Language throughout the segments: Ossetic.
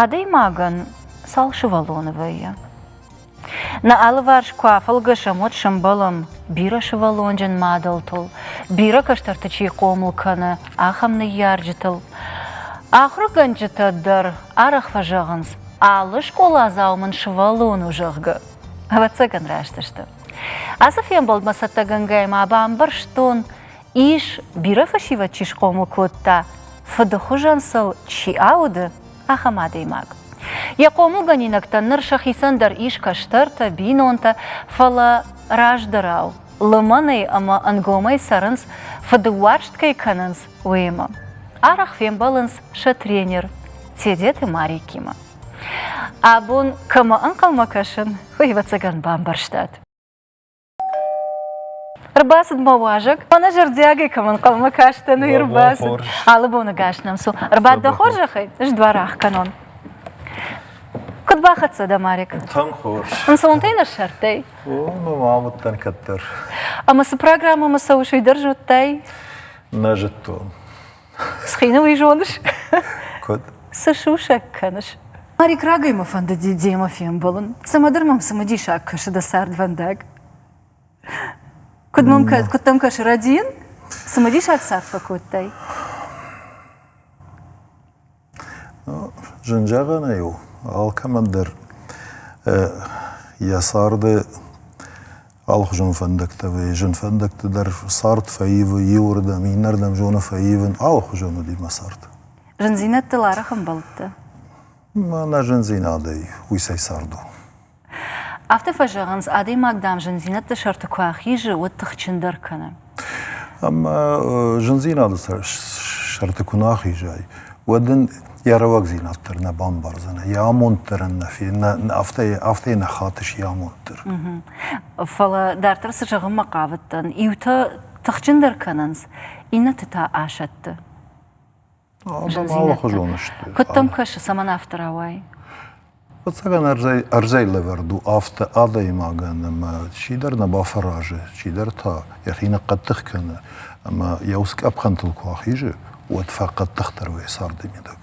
Адӕймагӕн цал сывӕллоны вӕййы? Нӕ алыварс куы афӕлгӕсӕм, уӕд сӕмбӕлӕм бирӕ сывӕллонджын мадӕлтыл, бирӕ кӕстӕрты чи хъомыл кӕны, ахӕм ныййарджытыл. Ахуыргӕнджытӕ дӕр арӕх фӕзӕгъынц, алы скъоладзау мын сывӕллон у, зӕгъгӕ. Ӕвӕццӕгӕн раст сты. Ацы фембӕлдмӕ цӕттӕгӕнгӕйӕ ма бамбӕрстон, Ис, бирӕ фӕсивӕд чи схъомыл кодта, фыды хуызӕн сыл чи ауды, ахӕм адӕймаг. Йӕ хъомылгӕнинӕгтӕн ныр сӕхицӕн дӕр ис кӕстӕртӕ, бинонтӕ, фӕлӕ раздӕрау, лымӕнӕй ӕмӕ ӕнгомӕй цӕрынц, фыдыуарзт кӕй кӕнынц, уыимӕ. Арӕх фембӕлынц сӕ тренер Тедеты Марикимӕ. Абон кӕмӕ ӕнхъӕлмӕ кӕсын, уый ӕвӕццӕгӕн бамбӕрстат? Ӕрбацыд мӕ уазӕг. Мӕнӕ зӕрдиагӕй кӕм ӕнхъӕлмӕ кастӕн, уый ӕрбацыд. Алы боныгӕс нӕм цу. Ӕрбад дӕ хорзӕхӕй, ӕз дуар ах кӕнон. Куыд бахӕццӕ дӕ, Марик? Тынг хорз. Ӕнцонтӕй нӕ ссардтай? О, ну ма уыдтӕн кӕддӕр. Ӕмӕ цы программӕмӕ цӕуыс, уый дӕр зыдтай? Нӕ зыдтон. Схины уый зоныс? Куыд? Цы сусӕг кӕныс? Марик рагӕй мӕ фӕнды Дидземӕ фембӕлын. Цымыдыр мӕм цымыдисаг кӕсы дӕ цардвӕндаг. Куыд мӕм кӕ... куыд дӕм кӕсы Радийын? Цымыдисаг цард фӕкодтай? Зын зӕгъӕнӕй у, алкӕмӕндӕр йӕ царды алыхуызон фӕндӕгтӕ вӕййы. Зын фӕндӕгты дӕр цард фӕивы иуырдӕм, иннӕрдӕм зоны фӕивын, алыхуызон уыди мӕ цард. Зындзинӕдтыл арӕх ӕмбӕлдтӕ? Мӕнӕ зындзинадӕй уыйсӕй цард у. Афтӕ фӕзӕгъынц, адӕймаг, дам, зындзинӕдты сӕрты куы ахизы, уӕд тыхджындӕр кӕны. Ӕмӕ зындзинады сӕрты куы нӕ ахизай, уӕд ын йӕ рӕуӕгдзинад дӕр нӕ бамбардзӕн, йӕ амонд дӕр ын нӕ афтӕ афтӕ нӕ хатыс йӕ амонд дӕр. Фӕлӕ дарддӕр цы зӕгъынмӕ хъавыдтӕн, иутӕ тыхджындӕр кӕнынц, иннӕты та асӕтты. Алыхуызон сты. Куыд дӕм кӕсы, цӕмӕн афтӕ рауай? Фыццагӕн ӕрдзӕй, ӕрдзӕй лӕвӕрд у афтӕ адӕймагӕн, ӕмӕ чидӕр нӕ бафӕразы, чидӕр та йӕхи ныхъхъӕддых кӕны. Ӕмӕ йӕ ус къӕпхӕнтыл куы ахизы, уӕд фӕхъӕддыхдӕр уыйы царды мидӕг.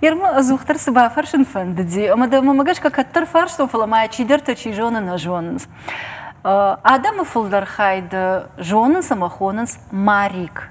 Ермы ӕдзухдӕр цы бафӕрсын фӕндыди, ӕмӕ дӕ мӕмӕ гӕсгӕ кӕддӕр фарстон, фӕлӕ ма йӕ чидӕртӕ чи зоны, нӕ зонынц. Адӕмы фылдӕр хай дӕ зонынц ӕмӕ хонынц Марик.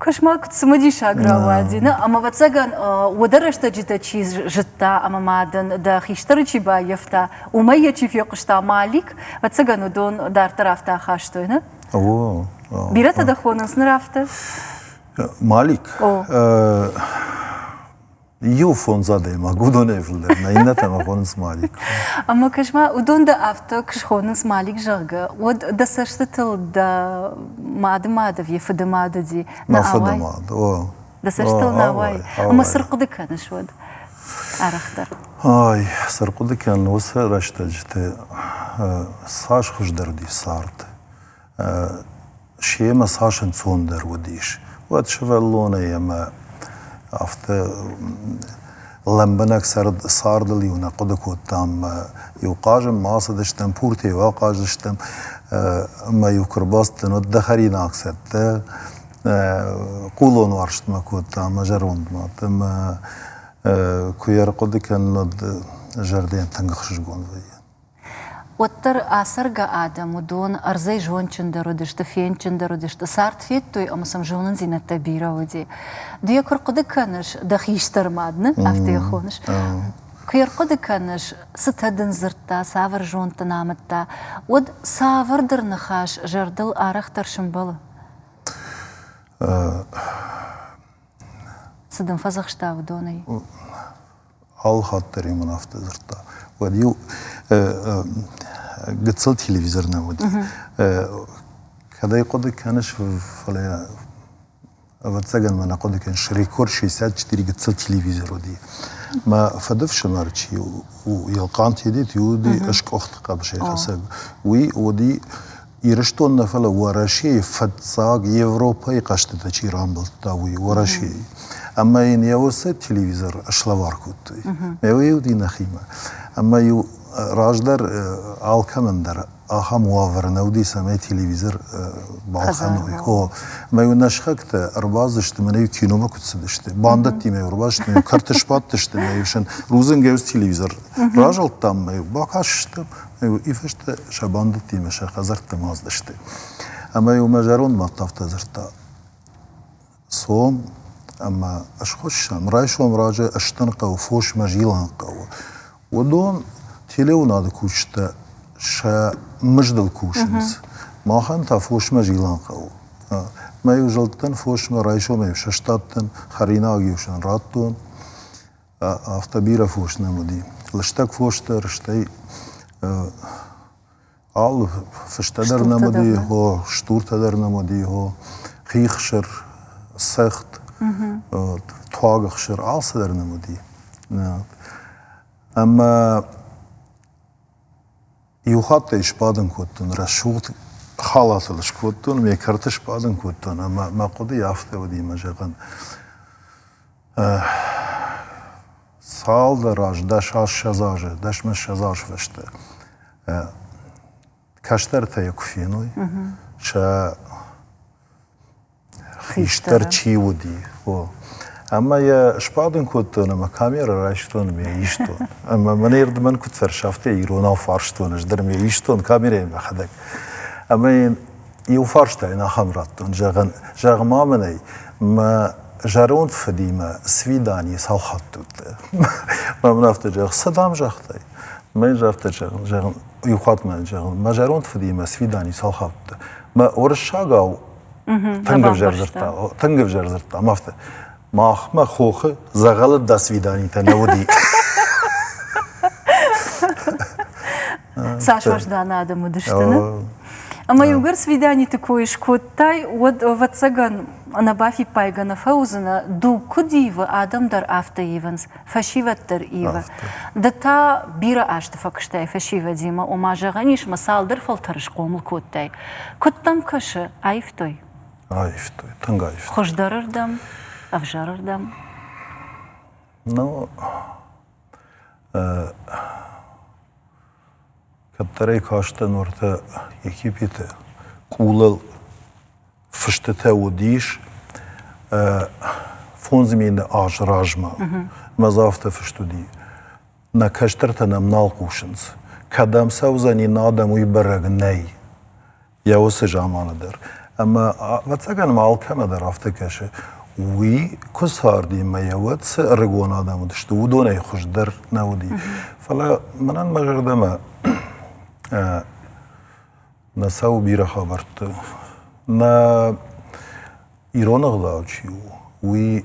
Кошмар куыд цымыдисаг рауади, нӕ? Ӕмӕ, ӕвӕццӕгӕн, уӕдӕ рӕстӕджытӕ чи зыдта ӕмӕ ма дын дӕ хистӕры чи баййӕфта, уымӕй йӕ чи фехъуыста, Малик, ӕвӕццӕгӕн, уыдон дарддӕр афтӕ ахастой, нӕ? О. Бирӕтӕ дӕ хонынц ныр афтӕ? Малик? О. иу фондз адӕймаг уыдонӕй фылдӕр нӕ иннӕтӕм хонынц мӕликк. Ӕмӕ кӕс ма, уыдон дӕ афтӕ куы схонынц мӕликк, зӕгъгӕ, уӕд дӕ цӕстытыл дӕ мадымад ӕви фыды мад уыди? Мӕ фыды мад, о. Дӕ цӕстытыл нӕ ауайы? Ӕмӕ цы рхъуыды кӕныс уӕд арӕхдӕр? Ай, цы рхъуыды кӕнын уыцы рӕстӕджыты цас хуыздӕр уыди цард. семӕ цас ӕнцондӕр уыдис, уӕд сывӕллонӕй ӕмӕ афтӕ лӕмбынӕг цардыл-иу нӕ хъуыды кодтам ӕмӕ-иу хъазын ма ацыдыстӕм, пуртӕ-иу ахъаздзыстӕм ӕмӕ-иу куы ӕрбацыдтӕн, уӕд дӕ хӕринаг цӕттӕ хъулон уарзтмӕ кодта ӕмӕ зӕронд мад ӕмӕ куы йӕ ӕрхъуыды кӕнын, уӕд зӕрдӕйӕн тынг ӕхсызгон вӕййы. уӕддӕр ацӕргӕ адӕм уыдон ӕрдзӕй зондджындӕр уыдысты, фендджындӕр уыдысты, цард федтой ӕмӕ сӕм зонындзинӕдтӕ бирӕ уыди. Ды йӕ куы рхъуыды кӕныс, дӕ хистӕр мад нын афтӕ йӕ хоныс, куы йӕ рхъуыды кӕныс, цытӕ дын дзырдта, цавӕр зонд дын амыдта, уӕд цавӕрдӕр ныхас зӕрдыл арӕхдӕр сӕмбӕлы. Цы дын фӕдзӕхста уыдонӕй? алы хатт дӕр йӕ мын афтӕ дзырдта. Уӕд-иу гыццыл телевизор нӕ уыд. Кӕд ӕй хъуыды кӕныс, фӕлӕ ӕвӕццӕгӕн мӕ нӕ хъуыды кӕныс, рекорд 64 гыццыл телевизор уыди. Мӕ фыдыфсымӕр чи у, Елхъант Едет, уыди скъуыхт хъӕбысӕйхӕцӕг. Уый уыди Ирыстон нӕ фӕлӕ Уӕрӕсейы фыццаг Европӕйы хъӕзтытӕ чи рамбылдта, уый Уӕрӕсейы. Ӕмӕ йын йӕ усы телевизор слӕвар кодтой. Ӕмӕ уыди нӕхимӕ. Ӕмӕ-иу раздӕр алкӕмӕн дӕр ахӕм уавӕр нӕ уыди, цӕмӕй телевизор балхӕной. О, ӕмӕ-иу нӕ сыхӕгтӕ ӕрбацыдысты, мӕнӕ-иу киномӕ куыд цыдысты. Бандӕттимӕ ӕрбацыдыстӕм, иу кӕрты сбадтысты, мӕ иу сын рудзынгӕй уыцы телевизор разылдтам, мӕ иу бакастыстӕм, Иу фысты сӕ бандӕттимӕ сӕ хӕдзӕртты мӕзд сты. Ӕмӕ-иу мӕ зӕронд мад афтӕ дзырдта, цом ӕмӕ схуыссӕм, райсом раджы ыстын хъӕуы фосмӕ зилӕн хъӕуы. Уыдон телеуынады кусджытӕ сӕ мыздыл кусынц. Махӕн та фосмӕ зилӕн хъӕуы. Мӕ-иу зылдтӕн фосмӕ, райсомӕй-иу сыстадтӕн, хӕринаг-иу сын радтон. Афтӕ бирӕ фос нӕм уыди. Лыстӕг фос дӕр, стӕй алы фыстӕ дӕр нӕм уыди, хо, стуртӕ дӕр нӕм уыди, хо, хихсыр, цӕхт, туагыхсыр, алцыдӕр нӕм уыди. Ӕмӕ иу хатт ӕй сбадын кодтон, рӕсугъд халатыл скодтон, ме кӕрты сбадын кодтон, ӕмӕ мӕ хъуыды афтӕ уыди мӕ зӕгъын, Цалдӕр азы, дӕс-ӕссӕдз азы, дӕсмӕссӕдз азы фӕстӕ кӕстӕртӕ йӕ куы феной, сӕ хистӕр чи уыди, о. Ӕмӕ йӕ сбадын кодтон ӕмӕ камерӕ райстон ӕмӕ йӕ истон. Ӕмӕ мӕнӕ ирдмӕн куыд фӕрсы, афтӕ иронау фарстон ӕз дӕр ӕмӕ йӕ истон камерӕйы мӕхӕдӕг. Ӕмӕ йын Иу фарстайын ахӕм радтон, зӕгъын, зӕгъ-ма мын ӕй, мӕ зӕронд фыдимӕ свиданийы цал хатты уыдтай? Мӕ мын афтӕ зӕгъ, цы дам загътай? Мӕ йын афтӕ зӕгъын, зӕгъын, иу хатт мӕ зӕгъын, мӕ зӕронд фыдимӕ свидани цал хатты уыдтай? Мӕ уырыссагау тынг ӕвзӕр дзырдта, тынг ӕвзӕр дзырдта, афтӕ. Махмӕ хохы дзӕгъӕлы досвиданитӕ нӕ уыди. Цас уӕздан адӕм уыдысты, не? Ӕмӕ иугӕр свиданиты кой скодтай, уӕд, ӕвӕццӕгӕн, ӕнӕ бафиппайгӕ нӕ фӕуыдзынӕ, дуг куыд ивы, адӕм дӕр афтӕ ивынц, фӕсивӕд дӕр ивы. Ды та бирӕ азты фӕкуыстай фӕсивӕдимӕ, ома, зӕгъӕн ис, мӕ цалдӕр фӕлтӕры схъомыл кодтай. Куыд дӕм кӕсы, аивтой? Аивтой, тынг аивтой. Хуыздӕрырдӕм, ӕвзӕрырдӕм? Ну, кӕддӕрӕй кастӕн уартӕ Египеты къулыл фыстытӕ уыдис фондз мины аз размӕ. Мӕ дзы афтӕ фыст уыди. Нӕ кӕстӕртӕ нӕм нал хъусынц. Кӕдӕм цӕудзӕни, нӕ адӕм уый бӕрӕг нӕй. йӕ уыцы заманы дӕр. Ӕмӕ, ӕвӕццӕгӕн ма алкӕмӕ дӕр афтӕ кӕсы, уый куы царди мӕ йӕ уӕд цы ӕрыгон адӕм уыдысты, уыдонӕй хуыздӕр нӕ уыди. Фӕлӕ мӕнӕн мӕ зӕрдӕмӕ нӕ цӕуы бирӕ хабӕртты. Нӕ ирон ӕгъдау чи у, уый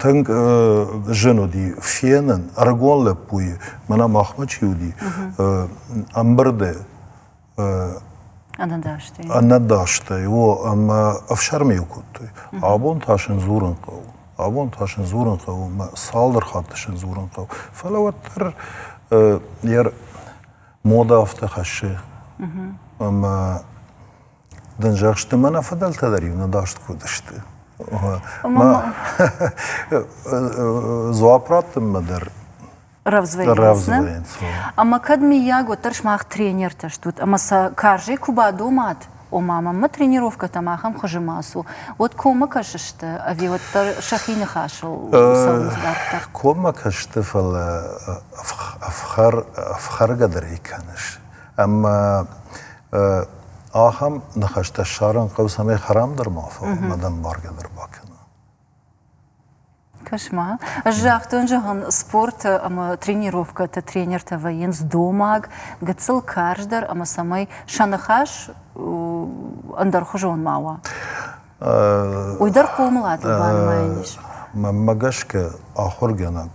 Тынг зын уыди фенын, ӕрыгон лӕппуйы, мӕнӕ махмӕ чи уыди, ӕмбырды ӕнӕдастӕй, о, ӕмӕ ӕфсӕрмы-иу кодтой. Абон та сын дзурын хъӕуы. Абон та сын дзурын хъӕуы, ӕмӕ цалдӕр хатты сын дзурын хъӕуы. Фӕлӕ уӕддӕр йӕ модӕ афтӕ хӕссы, ӕмӕ Дынжӕхсты мӕ нӕ фыдӕлтӕ дӕр иуныдаст куы уыдысты. Дзуапп раттынмӕ дӕр рӕвдзвӕйынц. Ӕмӕ кӕд, миййаг, уӕддӕр сымах тренертӕ стут, ӕмӕ сӕ карзӕй куы бадомат, ома мӕнмӕ тренировкӕтӕм ахӕм хуызы ма цу, уӕд коммӕ кӕсысты ӕви уӕддӕр сӕхи ныхасыл цӕуынц дарддӕр? Коммӕ кӕсты, фӕлӕ ӕфхӕргӕ дӕр ӕй кӕныс. Ӕмӕ Ахӕм ныхӕстӕ ссарын хъӕуы, цӕмӕй хӕрам дӕр ма фӕуа, мадӕн баргӕ дӕр бакӕна. Кошмар. Ӕз загътон, зӕгъын, спорты ӕмӕ тренировкӕты тренертӕ вӕййынц домаг, гыццыл карздӕр ӕмӕ цӕмӕй сӕ ныхас ӕндӕрхуызон ма уа. Уый дӕр хъомылатыл банымайӕн ис. Мӕнмӕ гӕсгӕ, ахуыргӕнӕг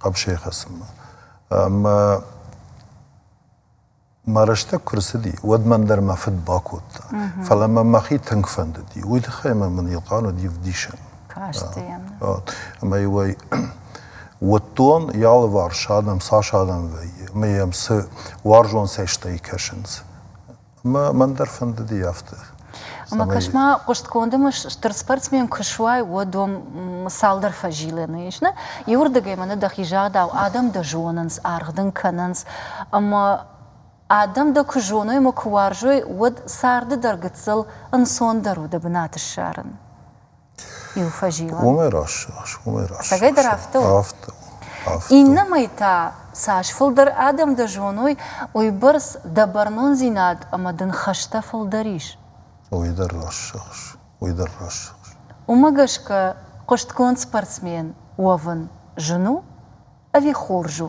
хъӕбысӕй хӕцынмӕ. Ӕмӕ мӕ рӕстӕг куы рцыди, уӕд мӕн дӕр мӕ фыд бакодта. Фӕлӕ мӕ мӕхи тынг фӕндыди. Уый тыххӕй мӕ мын Елхъан уыди вдисӕн. Карст йӕм. Ӕмӕ-иу ӕй уыдтон, йӕ алыварс адӕм цас адӕм вӕййы, ӕмӕ йӕм цы уарзон цӕстӕй кӕсынц. Мӕн дӕр фӕндыди афтӕ. Ӕмӕ кӕс-ма, хъуыстгонды мыс стыр спортсмен куы суай, уӕд уӕм цалдӕр фӕзилӕны ис, нӕ? Иуырдыгӕй мӕнӕ дӕхи загъдау, адӕм дӕ зонынц, аргъ дын кӕнынц, ӕмӕ адӕм дӕ куы зоной ӕмӕ куы уарзой, уӕд царды дӕр гыццыл ӕнцондӕр у дӕ бынат ссарын. иу фӕзилӕн. Уымӕй рӕссы ас, уымӕй рӕссы. Цӕгӕй дӕр афтӕ у? Афтӕ у. Афтӕ. Иннӕмӕй та цас фылдӕр адӕм дӕ зоной, уыйбӕрц дӕ бӕрнондзинад ӕмӕ дын хӕстӕ фылдӕр ис. Уый дӕр рӕссыгъз, уый дӕр рӕссыгъз. Уымӕ гӕсгӕ хъуыстгонд спортсмен уӕвын зын у ӕви хорз у?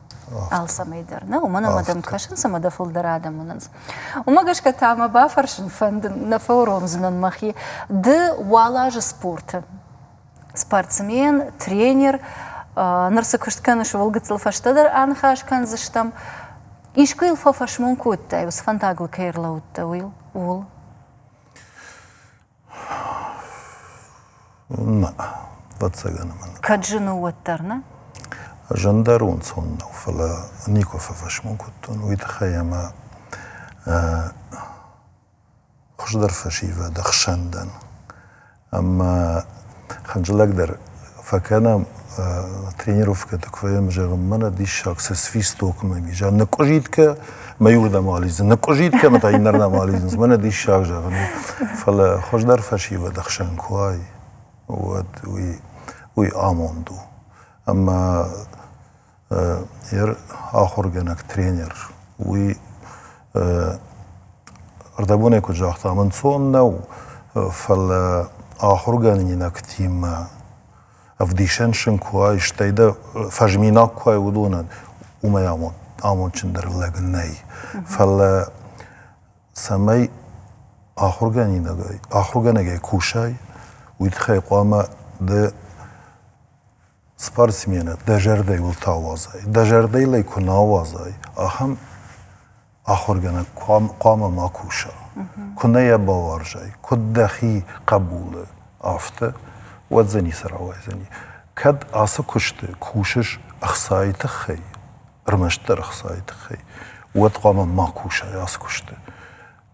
алцӕмӕй дӕр, нӕ? Уымӕн ӕмӕ дӕм кӕсынц ӕмӕ дӕ фылдӕр адӕм уынынц. Уымӕ гӕсгӕ та мӕ бафӕрсын фӕндын, нӕ фӕуромдзынӕн мӕхи. Ды уал азы спорты. Спортсмен, тренер, ныр цы куыст кӕныс, ууыл гыццыл фӕстӕдӕр аныхас кӕндзыстӕм. Искуы йыл фӕфӕсмон кодтай, уыцы фӕндагыл кӕй ӕрлӕууыдтӕ, уый? Ууыл. Нӕ, ӕвӕццӕгӕн мын. Кӕд зын у, уӕддӕр, нӕ? Зындӕр ӕнцон нӕу, фӕлӕ никуы фӕфӕсмон кодтон уый тыххӕй ӕмӕ хуыздӕр фӕсивӕд ӕхсӕн дӕн. Ӕмӕ хӕрзлӕгдӕр фӕкӕнӕм тренировкӕты куы фӕйӕм зӕгъӕм мӕнӕ диссаг цы свистокмӕ ис ныкъуызиткӕ мӕй уырдӕм алидзын ныкъуызиткӕмӕ та иннӕрдӕм алидзынц мӕнӕ диссаг зӕгъын фӕлӕ хуыздӕр фӕсивӕд ӕхсӕн куы уай уӕд уый уый амонд у ӕмӕ ахуыргӕнӕг тренер уый ӕрдӕбонӕй куыд загъта ӕнцон нӕу фӕлӕ ахуыргӕнинӕгтимӕ ӕвдисӕн сын куы уай стӕй дӕ фӕзминаг куы уай уыдонӕн уымӕй амондджындӕр лӕг нӕй фӕлӕ цӕмӕй ахуыргӕнинагӕй ахуыргӕнӕгӕй кусай уый тыххӕй хъуамӕ ды спортсменӕ дӕ зӕрдӕ уыл цы ауадзай, дӕ зӕрдӕйыл ӕй куы нӕ ауадзай, ахӕм ахуыргӕнӕг хъуамӕ ма куса. Куы нӕ йӕ бауарзай, куыд дӕхи хъӕбулы, афтӕ, уӕд дзы ницы рауайдзӕни. Кӕд ацы куысты кусыс ӕхцайы тыххӕй, ӕрмӕстдӕр ӕхцайы тыххӕй, уӕд хъуамӕ ма кусай ацы куысты.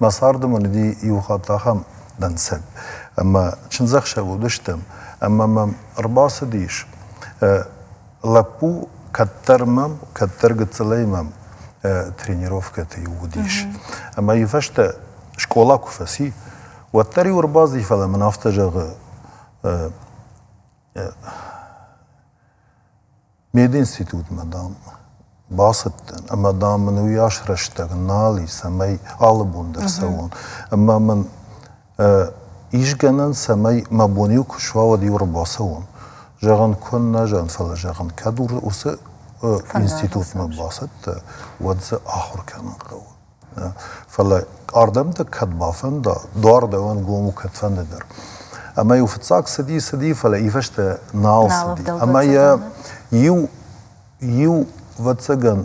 Мӕ царды мын уыди иу хатт ахӕм дӕнцӕг, ӕмӕ чындзӕхсӕв уыдыстӕм, ӕмӕ мӕм ӕрбацыдис лӕппу, кӕддӕр мӕм, кӕддӕр гыццылӕй мӕм тренировкӕты-иу уыдис. Ӕмӕ-иу фӕстӕ скъола куы фӕци, уӕддӕр-иу ӕрбацыди, фӕлӕ мын афтӕ зӕгъы, Мединститутмӕ, дам, бацыдтӕн, ӕмӕ, дам, мын уыйас рӕстӕг нал и, цӕмӕй алы бон дӕр цӕуон. Ӕмӕ мын ис гӕнӕн, цӕмӕй мӕ бон иу куы суа, уӕд иу ӕрбацӕуон. Зӕгъӕн куыннӕ зӕгъын, фӕлӕ зӕгъын, кӕд уыцы институтмӕ бацӕттӕ, уӕд дзы ахуыр кӕнын хъӕуы. Фӕлӕ ардӕмтӕ кӕд бафӕнда, дуар дӕуӕн гом у кӕд фӕнды дӕр. Ӕмӕ-иу фыццаг цыди, цыди, фӕлӕ ифӕстӕ нал цыди. Ӕмӕ йӕ иу, иу ӕвӕццӕгӕн,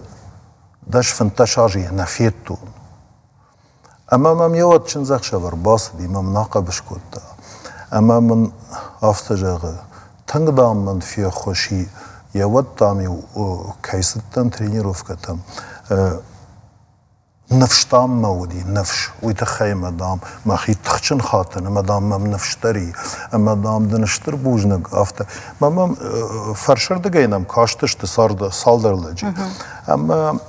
дӕс, фынддӕс азы йӕ нӕ федтон. Ӕмӕ мӕм йӕ уӕд чындзӕхсӕвӕр бацыди, мӕм нӕ хъӕбыс кодта. Ӕмӕ мын афтӕ зӕгъы, тынг, дам, мын феххуыс и, йӕ уӕд, дам-иу кӕй цыдтӕн тренировкӕтӕм, Ныфс, дам, мӕ уыди, ныфс. Уый тыххӕй, мадам, мӕхи тыхджын хатын, ӕмӕ, дам, мӕм ныфс дӕр и, ӕмӕ, дам, дын стыр бузныг, афтӕ. Мӕ мӕм фӕрсырдыгӕй нӕм кастысты цалдӕр лӕджы. Ӕмӕ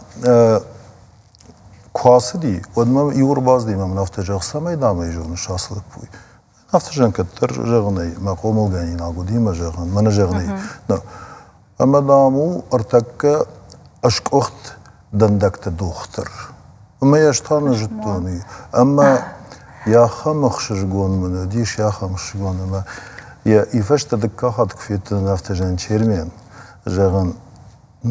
куы ацыди, уӕд мӕм иу ӕрбацыди мӕ мын афтӕ зӕгъ, цӕмӕй, дам, ӕй зоныс ацы лӕппуйы? Афтӕ зӕгъын кӕддӕр зӕгъын ӕй, мӕ хъомылгӕнинаг уыди мӕ зӕгъын, мӕнӕ зӕгъын ӕй. Ӕмӕ, дам, у ӕртӕккӕ ӕскъуыхт дӕндӕгты дохтыр. Ӕмӕ ӕз та нӕ зыдтон и. Ӕмӕ йӕ ахӕм ӕхсызгон мын уыдис, йӕ ахӕм ӕхсызгон ӕмӕ йӕ ифӕстӕ дыккаг хатт куы федтон афтӕ Жанчермен, зӕгъын,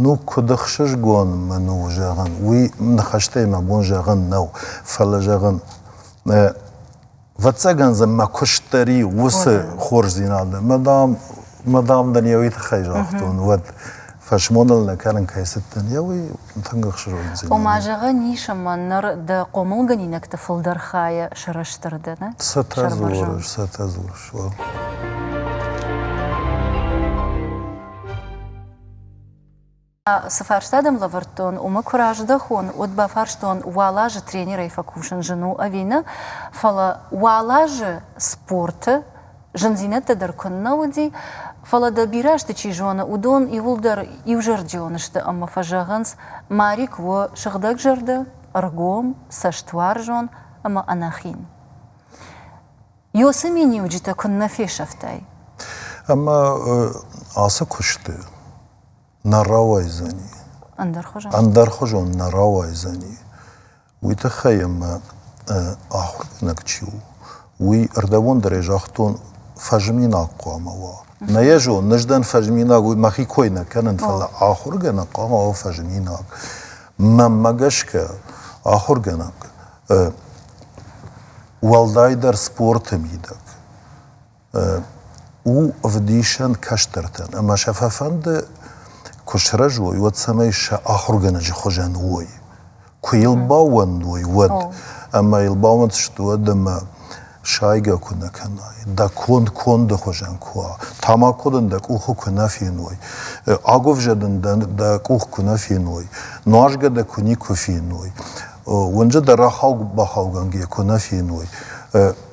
ну куыд ӕхсызгон мын у, зӕгъын, уый ныхӕстӕй мӕ бон зӕгъын нӕу, фӕлӕ, зӕгъын, Вӕццӕгӕн дзы мӕ куыст дӕр и уыцы хорздзинады. Мадам, мадам дын йӕ уый тыххӕй загътон, уӕд фӕсмоныл нӕ кӕнын кӕй цыдтӕн, йӕ уый тынг ӕхсызгондзинад. Ома, зӕгъӕн ис, ӕмӕ ныр дӕ хъомылгӕнинӕгты фылдӕр хайӕ сырӕзтыр дӕ, нӕ? Цытӕ дзурыс, цытӕ дзурыс, уал. Цы фарста дӕм лӕвӕрдтон, уымӕ куы раздӕхон, уӕд бафарстон, уал азы тренерӕй фӕкусын зын у ӕви нӕ, фӕлӕ уал азы спорты зындзинӕдтӕ дӕр куыннӕ уыди, фӕлӕ дӕ бирӕ азты чи зоны, уыдон иууылдӕр иузӕрдион сты ӕмӕ фӕзӕгъынц, Марик у сыгъдӕгзӕрдӕ, ӕргом, цӕстуарзон ӕмӕ ӕнӕхин. Ёсы миниуджытӕ куыннӕ фесӕфтай! Ӕмӕ ацы куысты нӕ рауайдзӕни. Ӕндӕрхуызон? Ӕндӕрхуызон нӕ рауайдзӕни. Уый тыххӕй ӕмӕ ахуыргӕнӕг чи у, уый ӕрдӕбондӕрӕй загътон, фӕзминаг хъуамӕ уа. Нӕ йӕ зон, ныздӕн фӕзминаг, уый мӕхи кой нӕ кӕнын, фӕлӕ ахуыргӕнӕг хъуамӕ уа фӕзминаг. Мӕнмӕ гӕсгӕ, ахуыргӕнӕг уӕлдайдӕр спорты мидӕг у ӕвдисӕн кӕстӕртӕн, ӕмӕ сӕ фӕфӕнды, куы сырӕзой, уӕд цӕмӕй сӕ ахуыргӕнӕджы хуызӕн уой, куы йыл баууӕндой, уӕд. Ӕмӕ йыл баууӕнддзысты уӕд, ӕмӕ сайгӕ куы нӕ кӕнай, дӕ конд конды хуызӕн куы уа, тамако дын дӕ къухы куы нӕ феной, агуывзӕ дын дӕ къух куы нӕ феной, нуазгӕ дӕ куы никуы феной, уынджы дӕ рахауг-бахаугӕнгӕ куы нӕ феной,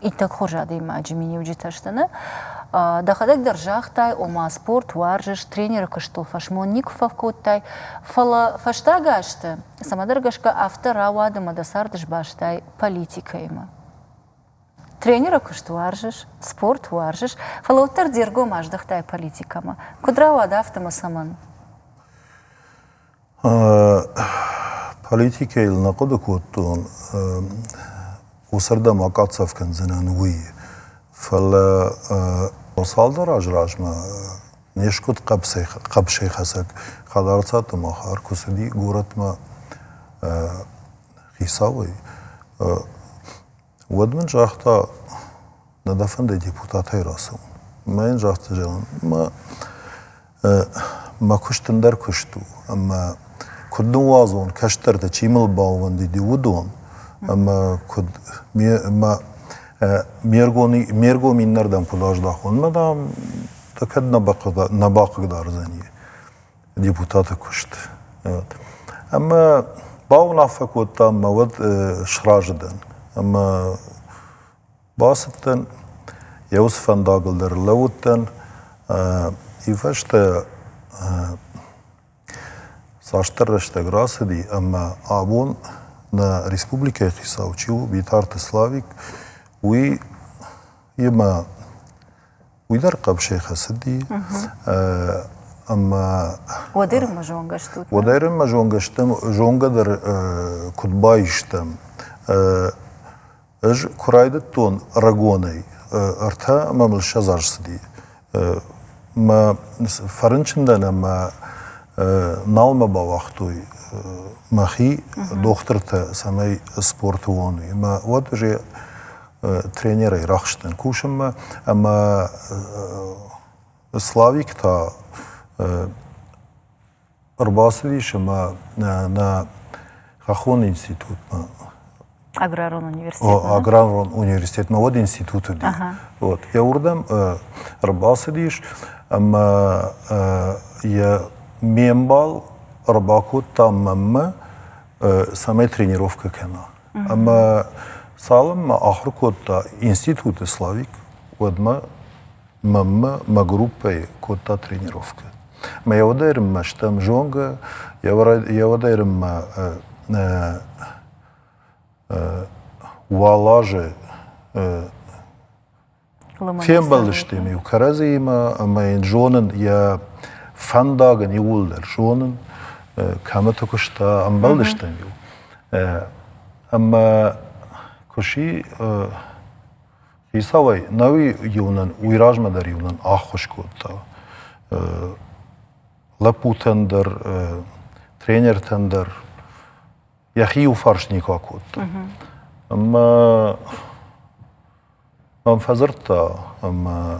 иттӕг хорз адӕймаджы миниуджытӕ сты нӕ. Дӕхӕдӕг дӕр загътай, ома спорт уарзыс, тренеры куыстыл фӕсмон никуы фӕкодтай, фӕлӕ фӕстаг азты, цӕмӕдӕр гӕсгӕ, афтӕ рауад ӕмӕ дӕ цард сбастай политикӕимӕ. Тренеры куыст уарзыс, спорт уарзыс, фӕлӕ уӕддӕр де ргом аздӕхтай политикӕмӕ. Куыд рауад афтӕ мӕ цӕмӕн? Политикӕйыл нӕ хъуыды кодтон, уыцырдӕм акъӕхдзӕф кӕндзынӕн, уый. Фӕлӕ цалдӕр азы размӕ не скуыд хъӕбысӕйхӕцӕг хӕдарцаты махар куы цыди горӕтмӕ хицауӕй. Уӕд мын загъта, нӕ дӕ фӕнды депутатӕй рацӕуын? Мӕ йын загъта, зӕгъын, мӕ мӕ куыст тынгдӕр куыст у, ӕмӕ куыд ныууадзон, кӕстӕрты чи мыл баууӕндыди, уыдон, ӕмӕ куыд ме мӕ ме ргом ме ргом иннӕрдӕм куыд аздӕхон, мӕ дам, дӕ кӕд нӕ бахъыгдардзӕни. депутаты куыст. Ӕмӕ бауынаффӕ кодтам мӕ уӕд сразы дӕн. Ӕмӕ бацыдтӕн, йӕ уыцы фӕндагыл дӕр лӕууыдтӕн. Уый фӕстӕ цасдӕр рӕстӕг рацыди ӕмӕ абон нӕ республикӕйы хицау чи у Битарты Славик, уый имӕ Уый дӕр хъӕбысӕй хӕцыди. Ӕмӕ Уӕд ирынмӕ зонгӕ стут? Уӕд ирынмӕ зонгӕ стӕм, зонгӕ дӕр куыд баистӕм. Ӕз куы райдыдтон рагонӕй, ӕртӕ ӕмӕ мыл ссӕдз аз цыди. Мӕ фӕрынчындӕн ӕмӕ нал мӕ бауагътой мӕхи дохтыртӕ, цӕмӕй спорты уон. Ӕмӕ уӕд уже тренерӕй рахызтӕн кусынмӕ ӕмӕ Славик та ӕрбацыдис ӕмӕ нӕ хӕххон институтмӕ аграрон университет аграрон университетмӕ уӕд институт уыди вот йӕ уырдӕм ӕрбацыдис ӕмӕ йӕ ме мбал ӕрбакодта мӕммӕ цӕмӕй тренировкӕ кӕна. Ӕмӕ цалынмӕ ахуыр кодта институты Славик, уӕдмӕ мӕммӕ мӕ группӕйы кодта тренировкӕ. Мӕ йӕ уӕд ӕрмӕ стӕм зонгӕ, йӕ уӕд ӕрмӕ уӕлазы Фембӕлдысты ме кӕрӕдзиимӕ ӕмӕ йын зонын йӕ фӕндаг ын иууылдӕр зонын, кӕмӕты куыста, ӕмбӕлдыстӕм-иу. Ӕмӕ куы сси хицауӕй, науи-иу нын уый размӕ дӕр-иу нын ӕххуыс кодта. Лӕппутӕн дӕр, тренертӕн дӕр йӕхи иу фарс никуы акодта. Ӕмӕ Ам фӕдзырдта ӕмӕ,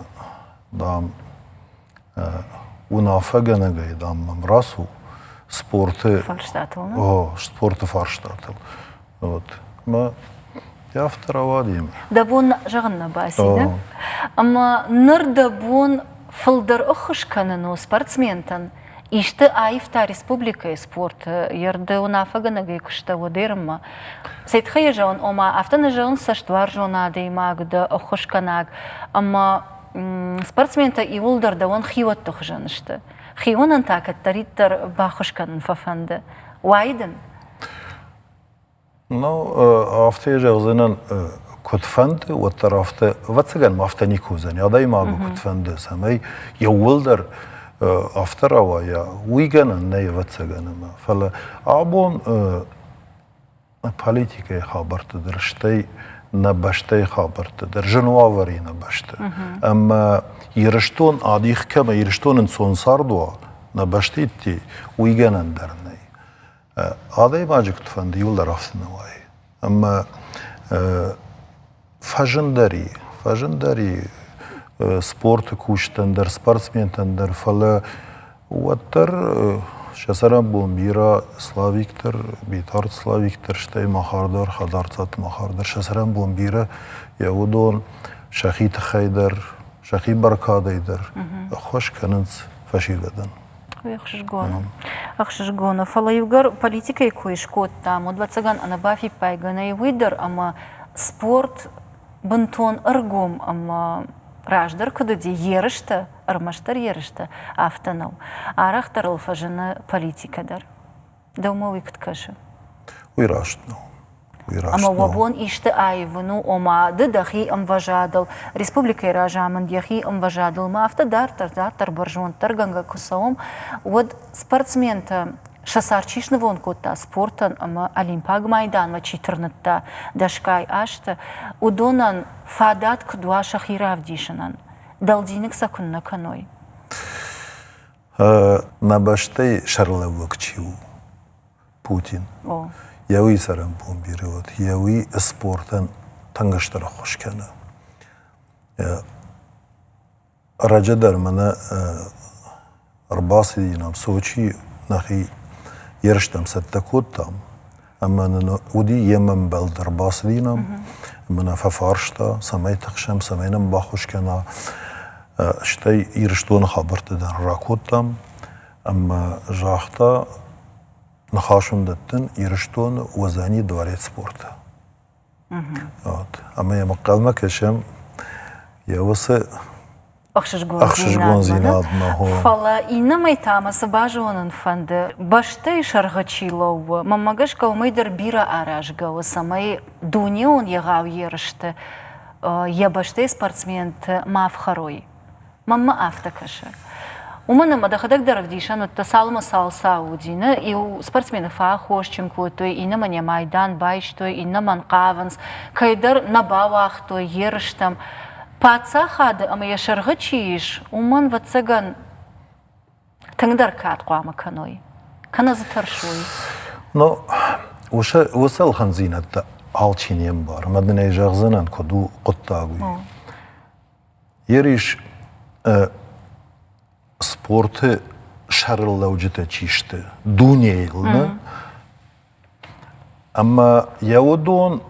дам, уынаффӕгӕнӕгӕй, дам, мӕм рацу спорты фарстатыл, о, спорты фарстатыл. Вот. Мӕ йӕ афтӕ рауади. Дӕ бон зӕгъын нӕ баци, да? Ӕмӕ ныр дӕ бон фылдӕр ӕххуыс кӕнын у спортсментӕн, исты аивта республикӕйы спорты, йе рды уынаффӕгӕнӕгӕй куыста Уӕдӕрынмӕ. Цӕй тыххӕй йӕ зӕгъын, ома афтӕ нӕ зӕгъын цӕстуарзон адӕймаг дӕ, ӕххуысгӕнӕг, ӕмӕ спортсментӕ иууылдӕр дӕуӕн хиуӕтты хуызӕн сты. Хиуонӕн та кӕддӕриддӕр баххуыс кӕнын фӕфӕнды. Уайы дын? Ну, афтӕ зӕгъдзынӕн, куыд фӕнды, уӕддӕр афтӕ, ӕвӕццӕгӕн ма афтӕ никуы уыдзӕни, адӕймагы куыд фӕнды, цӕмӕй иууылдӕр афтӕ рауайа, уый гӕнӕн нӕй ӕвӕццӕгӕн ӕмӕ. Фӕлӕ абон политикӕйы хабӕртты дӕр, стӕй нӕ бӕстӕйы хабӕртты дӕр зын уавӕр и нӕ бӕсты. Ӕмӕ Ирыстон адих кӕмӕ, Ирыстон ӕнцон цард уа, нӕ бӕсты идти, уый гӕнӕн дӕр нӕй. Адӕймаджы куыдфӕнды иуылдӕр ӕфтын уайы. Ӕмӕ фӕзындӕр и, фӕзындӕр и спорты кусджытӕн дӕр, спортсментӕн дӕр, фӕлӕ уӕддӕр сӕ цӕрӕнбон бирӕ Славик дӕр, Битарты Славик дӕр, стӕй махар дӕр, хӕдзарцадты махар дӕр, сӕ цӕрӕнбон бирӕ йӕ уыдон сӕхи тыххӕй дӕр, сӕхи бӕркадӕй дӕр ӕххуыс кӕнынц фӕсивӕдӕн. ӕхсызгон у. Фӕлӕ иугӕр политикӕйы кой скодтам, уӕд, ӕвӕццӕгӕн, ӕнӕ бафиппайгӕ нӕй уый дӕр, ӕмӕ спорт бынтон ӕргом ӕмӕ раздӕр куыд уыди, ерыстӕ, ӕрмӕстдӕр ерыстӕ, афтӕ нӕу. Арӕхдӕр ыл фӕзыны политикӕ дӕр. Дӕумӕ уый куыд кӕсы? Уый раст нӕу. Уый раст Ӕмӕ уӕ бон исты аивын у, ома, ды дӕхи ӕмвӕзадыл, республикӕйы разамынд йӕхи ӕмвӕзадыл ма афтӕ дарддӕр, дарддӕр бӕрзонддӕргӕнгӕ куы цӕуӕм, уӕд спортсментӕ сӕ цард чи снывонд кодта спортӕн ӕмӕ Олимпаг майданмӕ чи тырныдта дӕсгай азты, уыдонӕн фадат куыд уа сӕхи равдисынӕн? Дӕлдзиныг сӕ куыннӕ кӕной? Мӕ бӕстӕйы сӕргълӕууӕг чи у, Путин, йӕ уый цӕрӕнбон бирӕ уыд, йӕ уый спортӕн тынгыстӕр ӕххуыс кӕны. Раджы дӕр мӕнӕ ӕрбацыдинӕм Сочийы, нӕхи ерыстӕм цӕттӕ кодтам, ӕмӕ нын уыди йе мӕмбӕл дӕр бацыдинам ӕмӕ нӕ фӕфарста, цӕмӕй тыхсӕм, цӕмӕй нӕм баххуыс кӕна. Стӕй Ирыстоны хабӕрттӕ дӕр ракодтам ӕмӕ загъта, ныхас уын дӕттын Ирыстоны Уӕзӕни дворец спорты. Вот. Ӕмӕ йӕм ӕнхъӕлмӕ кӕсӕм йӕ уыцы ӕхсызгондзинадмӕ хо. Фӕлӕ иннӕмӕй та мӕ цы базонын фӕнды, бӕстӕйы сӕргъы чи лӕууы, мӕнмӕ гӕсгӕ уымӕй дӕр бирӕ аразгӕ у, цӕмӕй дунеон егъау ерысты йӕ бӕстӕйы спортсменты ма фхӕрой. Маммӕ афтӕ кӕсы. Уымӕн ӕмӕ дӕхӕдӕг дӕр ӕвдисӕн уыдтӕ, цалынмӕ цал цау уыди. Нӕ иу спортсмены фӕаххосджын кодтой, иннӕмӕн йӕ майдан байстой, иннӕмӕн хъавынц, кӕйдӕр нӕ бауагътой ерыстӕм. Паддзахады ӕмӕ йӕ сӕргъы чи ис, уымӕн, ӕвӕццӕгӕн, тынгдӕр кад хъуамӕ кӕной, кӕнӕ дзы тӕрсой. Ну, уыцы, уыцы ӕлхӕндзинӕдтӕ алчи не мбары. Ӕмӕ дын ӕй зӕгъдзынӕн, куыд у хъуыддаг, уый. Ерыс спорты сӕрыллӕуджытӕ чи сты дунейыл нӕ ӕмӕ йӕ уыдон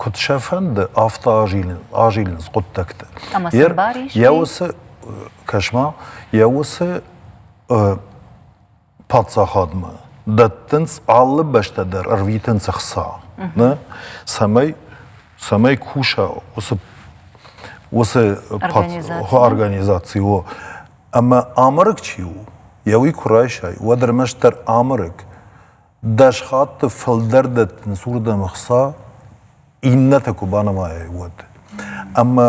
куыд сӕ фӕнды, афтӕ азилынц хъуыддӕгтӕ. Ӕмӕ сын бар ис? Йӕ уыцы, кӕс-ма, йӕ уыцы паддзахадмӕ дӕттынц алы бӕстӕ дӕр ӕрвитынц ӕхца, не? цӕмӕй цӕмӕй куса уыцы уыцы организаци о ӕмӕ амарг чи у, йӕ уый куы райсай, уӕд ӕрмӕстдӕр амарг. Дӕс хатты фылдӕр дӕттынц уырдӕм ӕхца, иннӕтӕ куы банымайай, уӕд. Ӕмӕ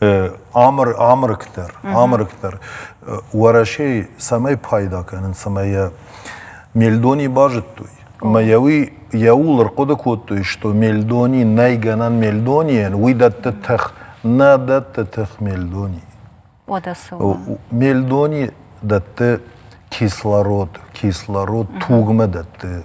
Амырыкдӕр, амырыкдӕр Уӕрӕсейы цӕмӕй пайда кӕнын, цӕмӕй йӕ Мельдони базыдтой. Ӕмӕ йӕ уый йӕ ууыл ӕрхъуыды кодтой, что Мельдони нӕй гӕнӕн Мельдонийӕн, уый дӕтты тых. Нӕ дӕтты тых Мельдони. Уӕдӕ цы? Мельдони дӕтты кислород, кислород тугмӕ дӕтты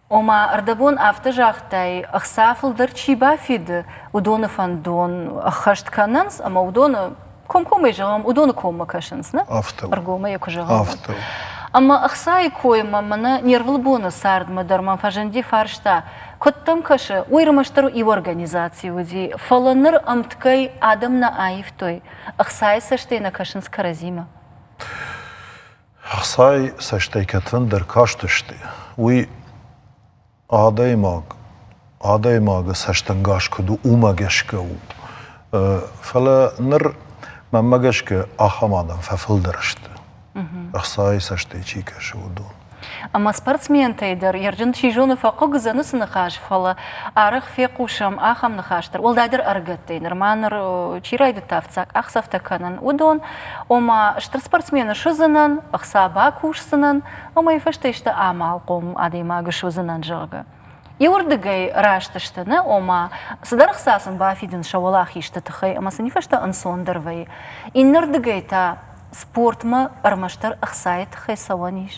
Ома, ӕрдӕбон афтӕ загътай, ӕхца фылдӕр чи бафиды, уыдоны фӕндон ӕххӕст кӕнынц, ӕмӕ уыдоны комкоммӕ зӕгъӕм, уыдоны коммӕ кӕсынц, нӕ? Афтӕ. Ӕргомӕй йӕ куы зӕгъӕм. Афтӕ. Ӕмӕ ӕхцайы коймӕ мӕнӕ не рвылбоны цардмӕ дӕр мӕм фӕзынди фарста, куыд дӕм кӕсы, уый ӕрмӕстдӕр иу организаци уыди, фӕлӕ ныр ӕмткӕй адӕм нӕ аивтой, ӕхцайы цӕстӕй нӕ кӕсынц кӕрӕдзимӕ. Ӕхцайы цӕстӕй кӕдфӕндӕр кастысты, уый адӕймаг, адӕймагы цӕстӕнгас куыд у, уымӕ гӕсгӕ у. Фӕлӕ ныр мӕнмӕ гӕсгӕ ахӕм адӕм фӕфылдӕр сты, ӕхцайы цӕстӕй чи кӕсы, уыдон. Ӕмӕ спортсментӕй дӕр ерджын чи зоны, фӕхъыг уыдзӕн уыцы ныхас, фӕлӕ арӕх фехъусӕм ахӕм ныхас дӕр, уӕлдайдӕр ӕрыгӕттӕй, нырма ныр чи райдыдта ӕфцӕг къахдзӕфтӕ кӕнын, уыдон. ома стыр спортсмены суыдзынӕн, ӕхца бакусдзынӕн, уымӕй фӕстӕ исты амалхъом адӕймагы суыдзынӕн, зӕгъгӕ. Иуырдыгӕй раст сты нӕ, ома цыдӕр ӕхца сын бафидынц сӕ уӕлахизты тыххӕй ӕмӕ сын фӕстӕ ӕнцондӕр вӕййы. Иннӕрдыгӕй та спортмӕ ӕрмӕстдӕр ӕхцайы тыххӕй цӕуӕн ис.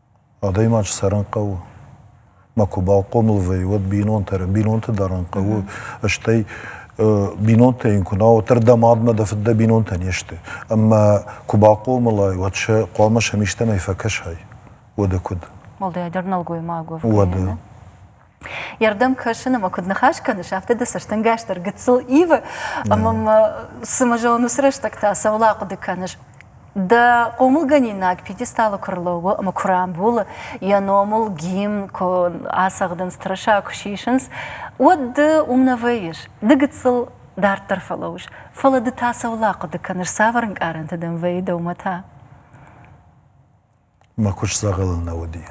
Адӕймаджы цӕрын хъӕуы. Мӕ куы бахъомыл вӕййы, уӕд бинонтӕ, бинонты дарын хъӕуы, стӕй бинонтӕ йын куы нӕ уа, уӕддӕр дӕ мадмӕ, дӕ фыд, дӕ бинонтӕ не сты. Ӕмӕ куы бахъомылай, уӕд сӕ хъуамӕ сӕм истӕмӕй фӕкӕсай. Уӕдӕ куыд? Уӕлдайдӕр нӕлгоймаг уӕвгӕйӕ, нӕ? йе рдӕм кӕсын ӕмӕ куыд ныхас кӕныс, афтӕ дӕ цӕстӕнгас дӕр гыццыл ивы, ӕмӕ мӕ цымӕ зӕгъын, уыцы рӕстӕг та цӕуыл ахъуыды кӕныс? Дӕ хъомылгӕнинаг пьедесталы куы рлӕууы ӕмӕ куы рамбулы, йӕ номыл гимн куы ацӕгъдынц, тырыса куы сисынц, уӕд ды уым нӕ вӕййыс, ды гыццыл дарддӕр фӕлӕууыс, фӕлӕ ды та цӕуыл ахъуыды кӕныс, цавӕр ӕнкъарӕнты дӕм вӕййы дӕумӕ та? мӕ куыст дзӕгъӕлыл нӕ уыди.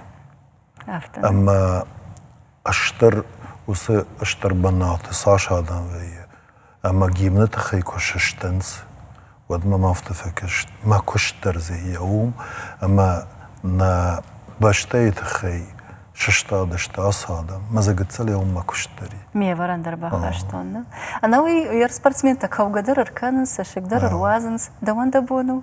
Афтӕ. Ӕмӕ стыр уыцы стыр бынаты цас адӕм вӕййы, ӕмӕ гимны тыххӕй куы сыстынц, уӕдмӕ мӕ афтӕ фӕкаст, мӕ куыст дӕр дзы иӕ у, ӕмӕ нӕ бӕстӕйы тыххӕй сыстадысты ацы адӕм. Мӕ дзӕгӕццалӕй уым мӕ куыст дӕр и. Ме ӕвӕрӕн дӕр бахастон нӕ. Ӕнӕуый уе рспортсментӕ кӕугӕ дӕр ӕркӕнынц, цӕссыгдӕр ӕруадзынц. Дӕуӕн дӕ бон у?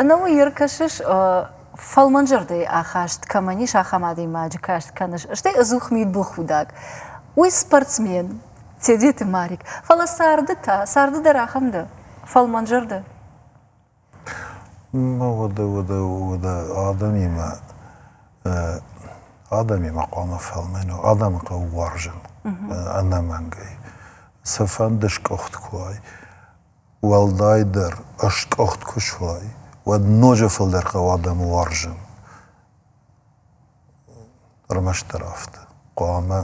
Ӕнӕуый ӕркӕсыс, фӕлмӕнзӕрдӕйы ахаст кӕмӕн ис, ахӕм адӕймаджы каст кӕныс, стӕй ӕдзух мидбылхудӕг. Уый спортсмен, Тедеты Марик. Фӕлӕ царды та, царды дӕр ахӕм дӕ, фӕлмӕнзӕрдӕ. Ну, уыды, уыды, уыды адӕмимӕ адӕмимӕ хъуамӕ фӕлмӕн у, адӕмы хъӕуы уарзын ӕнӕмӕнгӕй. Цыфӕнды скъуыхт куы уай, Уӕлдайдӕр ӕскъуыхт куы суай, уӕд ноджы фылдӕр хъӕуы адӕмы уарзын. Ӕрмӕстдӕр афтӕ. Хъуамӕ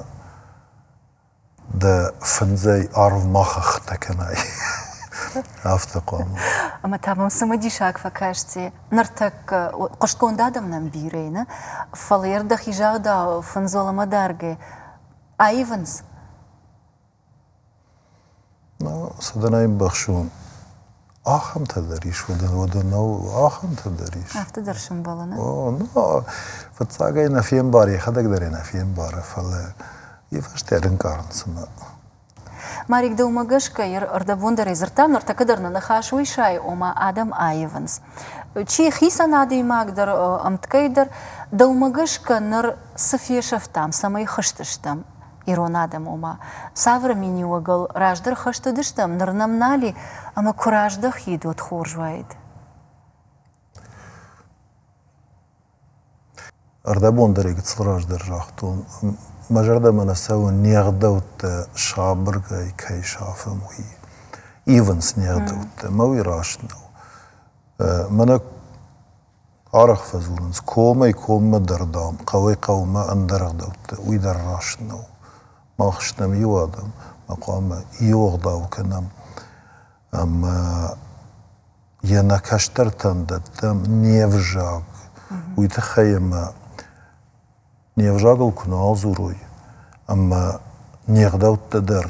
дӕ фындзӕй арв ма хӕхтӕ кӕнай. Афтӕ хъуамӕ. Ӕмӕ та мӕм цымыдисаг фӕкасти. Ныртӕккӕ хъуыстгонд адӕм нӕм бирӕ нӕ, фӕлӕ йӕр дӕхи загъдау, фындзол ӕмӕ дӕргӕй аивынц. Садана ӕмбӕхсон ахӕмтӕ дӕр ис, уӕдӕ нӕу ахӕмтӕ дӕр ис. Афтӕ дӕр сӕмбӕлы, нӕ? О, ну, фыццагӕй нӕ фембары, йӕхӕдӕг дӕр йӕ нӕ фембары, фӕлӕ йӕ фӕстӕ ӕрӕнкъарын, цымӕ. Марик, дӕумӕ гӕсгӕ, ӕрдӕбон дӕр ӕй дзырдтам, ныртӕккӕ дӕр нӕ ныхас уый сайы, ома адӕм аивынц. Чи хицӕн адӕймаг дӕр, ӕмткӕй дӕр, дӕумӕ гӕсгӕ ныр цы фесӕфтам, цӕмӕй хызтыстӕм? ирон адӕм, ома, цавӕр миниуӕгыл раздӕр хӕст уыдыстӕм, ныр нӕм нал и, ӕмӕ куы раздӕхид, уӕд хорз уаид. Ӕрдӕбон дӕр гыццыл раздӕр загътон, мӕ зӕрдӕмӕ нӕ цӕуы не гъдӕуттӕ сабыргай кӕй сафӕм, уый. Ивынц не гъдӕуттӕ, мӕ уый раст нӕу. Мӕнӕ Арӕх фӕдзурынц, комӕй коммӕ дӕр, дам, хъӕуӕй-хъӕумӕ ӕндӕр ӕгъдӕуттӕ, уый дӕр раст нӕу. Мах стӕм иу адӕм, ма хъуамӕ иу ӕгъдау кӕнӕм ӕмӕ йӕ нӕ кӕстӕртӕн дӕттӕм не взаг. Уый тыххӕй ӕмӕ не взагыл куы нал дзурой ӕмӕ не гъдӕуттӕ дӕр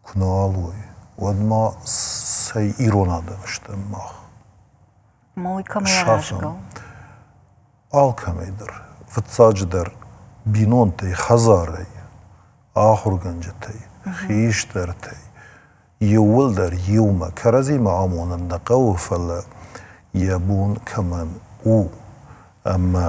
куы нал уой, уӕд ма цӕй ирон адӕм стӕм мах? Ма уый кӕмӕй агӕсгӕ? Алкӕмӕй дӕр. Фыццаджыдӕр, бинонтӕй, хӕдзарӕй, ахуыргӕнджытӕй, хистӕртӕй иууылдӕр иумӕ кӕрӕдзимӕ амонын нӕ хъӕуы, фӕлӕ йӕ бон кӕмӕн у ӕмӕ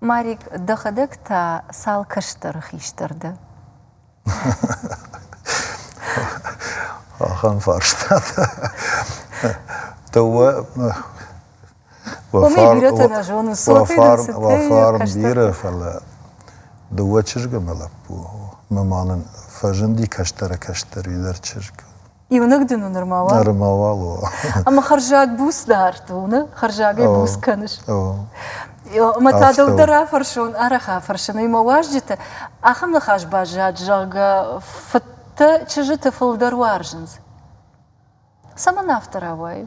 Марик, дӕхӕдӕг та цал кӕстӕры хистӕр дӕ? Ахӕм фарстатӕ. Дыууӕ уӕ фарм, уӕ фарм бирӕ, фӕлӕ дыууӕ чызгы мӕ лӕппу. Ма ма нын фӕзынди кӕстӕрӕй-кӕстӕридӕр чызг. Иунӕг дын у нырма уал? Нырма уал у. Ӕмӕ хӕрзаг буц дард уыны? Хӕрзагӕй буц кӕныс? Ӕмӕ та дӕлдӕр афӕрсон, арӕх афӕрсын, уый мӕ уазджыты ахӕм ныхас баззад, зӕгъгӕ, фыдтӕ чызджыты фылдӕр уарзынц. Цӕмӕн афтӕ рауайы?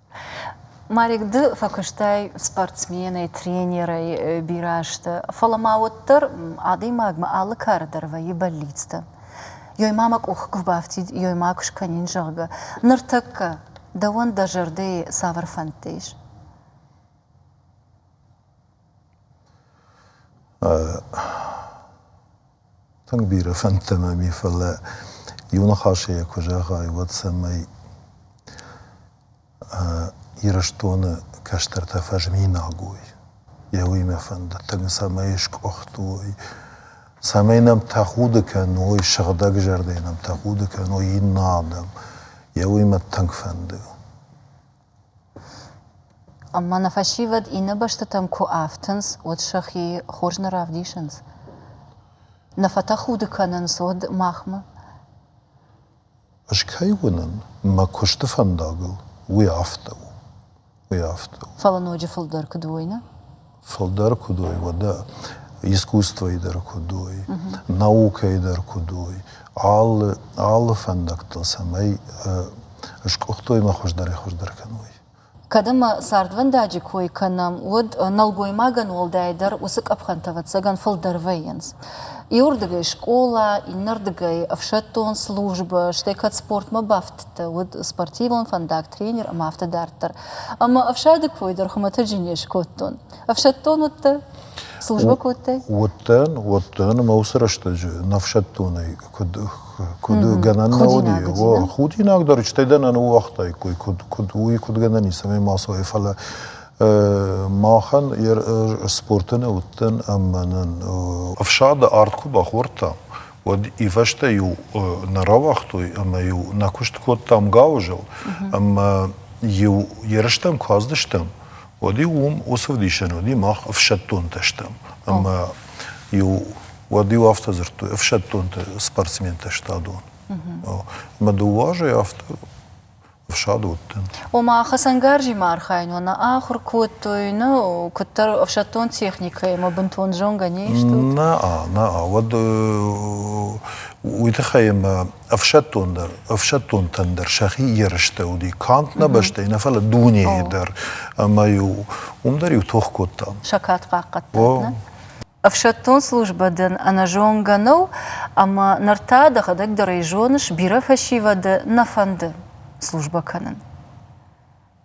Марик, ды фӕкуыстай спортсменӕй, тренерӕй бирӕ азты, фӕлӕ ма уӕддӕр адӕймагмӕ алы кары дӕр вӕййы бӕллицтӕ. Ёй ма мӕ къух куы бафтид, ёй ма куы скӕнин, зӕгъгӕ. Ныртӕккӕ дӕуӕн дӕ зӕрдӕйы цавӕр фӕндтӕ ис? Тынг бирӕ фӕндтӕ мӕм и, фӕлӕ иу ныхасӕй йӕ куы зӕгъай, уӕд цӕмӕй Ирыстоны кӕстӕртӕ фӕзминаг уой. Йӕ уый мӕ фӕнды, тынг цӕмӕй скъуыхт уой, цӕмӕй нӕм тӕхуды кӕной, сыгъдӕгзӕрдӕйы нӕм тӕхуды кӕной иннӕ адӕм. Йӕ уый мӕ тынг фӕнды. Ӕмӕ нӕ фӕсивӕд иннӕ бӕстӕтӕм куы афтынц, уӕд сӕхи хорз нӕ равдисынц, нӕ фӕтӕхуды кӕнынц уӕд махмӕ. Ӕз кӕй уынын, мӕ куысты фӕндагыл уый афтӕ у, уый афтӕ у. Фӕлӕ ноджы фылдӕр куыд уойны? фылдӕр куыд уой, уӕдӕ искусствойы дӕр куыд уой, наукӕйы дӕр куыд уой, алы, алы фӕндӕгтыл цӕмӕй скъуыхтой мӕ хуыздӕрӕй-хуыздӕр кӕной. Кӕд ӕмӕ цардвӕндаджы кой кӕнӕм, уӕд нӕлгоймагӕн уӕлдай дӕр уыцы къӕпхӕнтӕ, ӕвӕццӕгӕн, фылдӕр вӕййынц. Иуырдыгӕй скъола, иннӕрдыгӕй ӕфсӕддон службӕ, стӕй кӕд спортмӕ бафтдзӕн, уыд спортивон фӕндаг, тренер ӕмӕ афтӕ дарддӕр. Ӕмӕ ӕфсады кой дӕр хуымӕтӕджы не скодтон. Ӕфсӕддон уыдтӕ? Службӕ кодтай? Уыдтӕн, уыдтӕн, ӕмӕ уыцы рӕстӕджы не фсӕддонӕй куыд куыд гӕнӕн нӕ уыди, о, худинаг дӕр, стӕй дӕ нӕ ныууагътаиккой, куыд, куыд уый, куыд гӕнӕн ницӕмӕй ма цуай, фӕлӕ махӕн йӕ спорты нӕ уыдтӕн ӕмӕ нын ӕфсады ард куы бахордта, уӕд ивӕзтӕ-иу нӕ рауагътой ӕмӕ-иу нӕ куыст кодтам гауызыл, ӕмӕ-иу ерыстӕм куы аздыстӕм, уӕд-иу уым уыцы ӕвдисӕн уыди, мах ӕфсӕддонтӕ стӕм. Ӕмӕ-иу уӕд-иу афтӕ дзырдтой, ӕфсӕддонты спортсментӕ сты адон. Ӕмӕ дыууӕ азӕй афтӕ ӕфсадуӕтты. Ома хӕцӕнгарзимӕ архайын уӕ нӕ ахуыр кодтой, нӕ куыддӕр ӕфсӕддон техникӕимӕ бынтон зонгӕ не стут? Нӕ, нӕ, уӕд уый тыххӕй ӕмӕ ӕфсӕддон дӕр, ӕфсӕддонтӕн дӕр сӕхи ерыстӕ уыди, канд нӕ бӕстӕйы нӕ, фӕлӕ дунейы дӕр. Ӕмӕ-иу уым дӕр-иу тох кодтам. Саккат хъахъхъӕдтат, нӕ? Ӕфсӕддон службӕ дын ӕнӕзонгӕ нӕу ӕмӕ ныр та дӕхӕдӕг дӕр ӕй зоныс, бирӕ фӕсивӕды нӕ фӕнды службӕ кӕнын.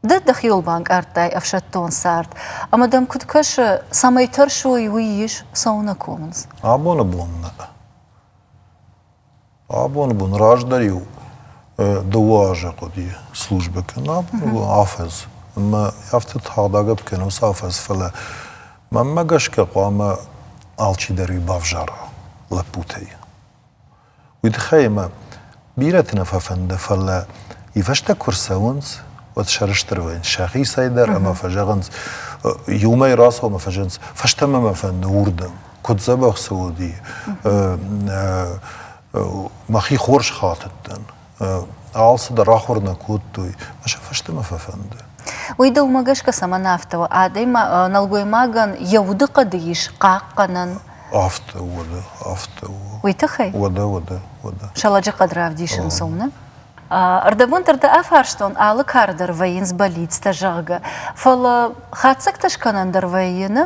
Ды дӕхиуыл банкъардтай ӕфсӕддон цард, ӕмӕ дӕм куыд кӕсы, цӕмӕй тӕрсой, уый ис, цӕуы нӕ комынц? Абоны бон нӕ. Абон бон раздӕр-иу дыууӕ азы хъуыди службӕ кӕнын. Абон бон афӕдз. Ӕмӕ афтӕ тагъд агӕпп кӕнын уыцы афӕдз, фӕлӕ мӕнмӕ гӕсгӕ хъуамӕ алчидӕр-иу бавзара лӕппутӕй. Уый тыххӕй ӕмӕ бирӕты нӕ фӕфӕнды, фӕлӕ ивӕзтӕ куы рцӕуынц, уӕд сӕрыстыр уайынц сӕхицӕй дӕр ӕмӕ фӕзӕгъынц, иумӕ рацӕуӕм ӕмӕ фӕзӕгъынц, фӕстӕмӕ мӕ фӕнды уырдӕм. куыд дзӕбӕх цы уыди, мӕхи хорз хатыдтӕн. Алцыдӕр ахуыр нӕ кодтой, мӕ сӕ фӕстӕмӕ фӕфӕнды. Уый дӕ уымӕ гӕсгӕ цӕмӕн афтӕ у? Адӕм нӕлгоймагӕн йӕ удыхъӕды ис хъахъхъӕнӕн. Афтӕ у, уӕдӕ, афтӕ у. Уый тыххӕй? Уӕдӕ, уӕдӕ, уӕдӕ. Сӕлӕджыхъӕд равдисын цӕуыны? Ӕрдӕбон дӕр дӕ афарстон, алы кары дӕр вӕййынц бӕллицтӕ, зӕгъгӕ. Фӕлӕ хатдзӕгтӕ скӕнӕн дӕр вӕййы, нӕ?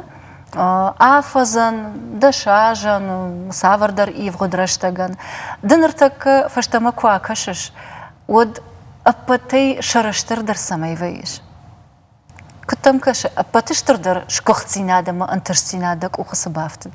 афӕдзӕн, дӕсазӕн, цавӕрдӕр ивгъуыд рӕстӕгӕн. Ды ныртӕккӕ фӕстӕмӕ куы акӕсыс, уӕд ӕппӕтӕй сӕрыстырдӕр цӕмӕй вӕййыс? Куыд дӕм кӕсы, ӕппӕты стырдӕр сгуыхтдзинад ӕмӕ ӕнтыстдзинад дӕ къухы цы бафтыд?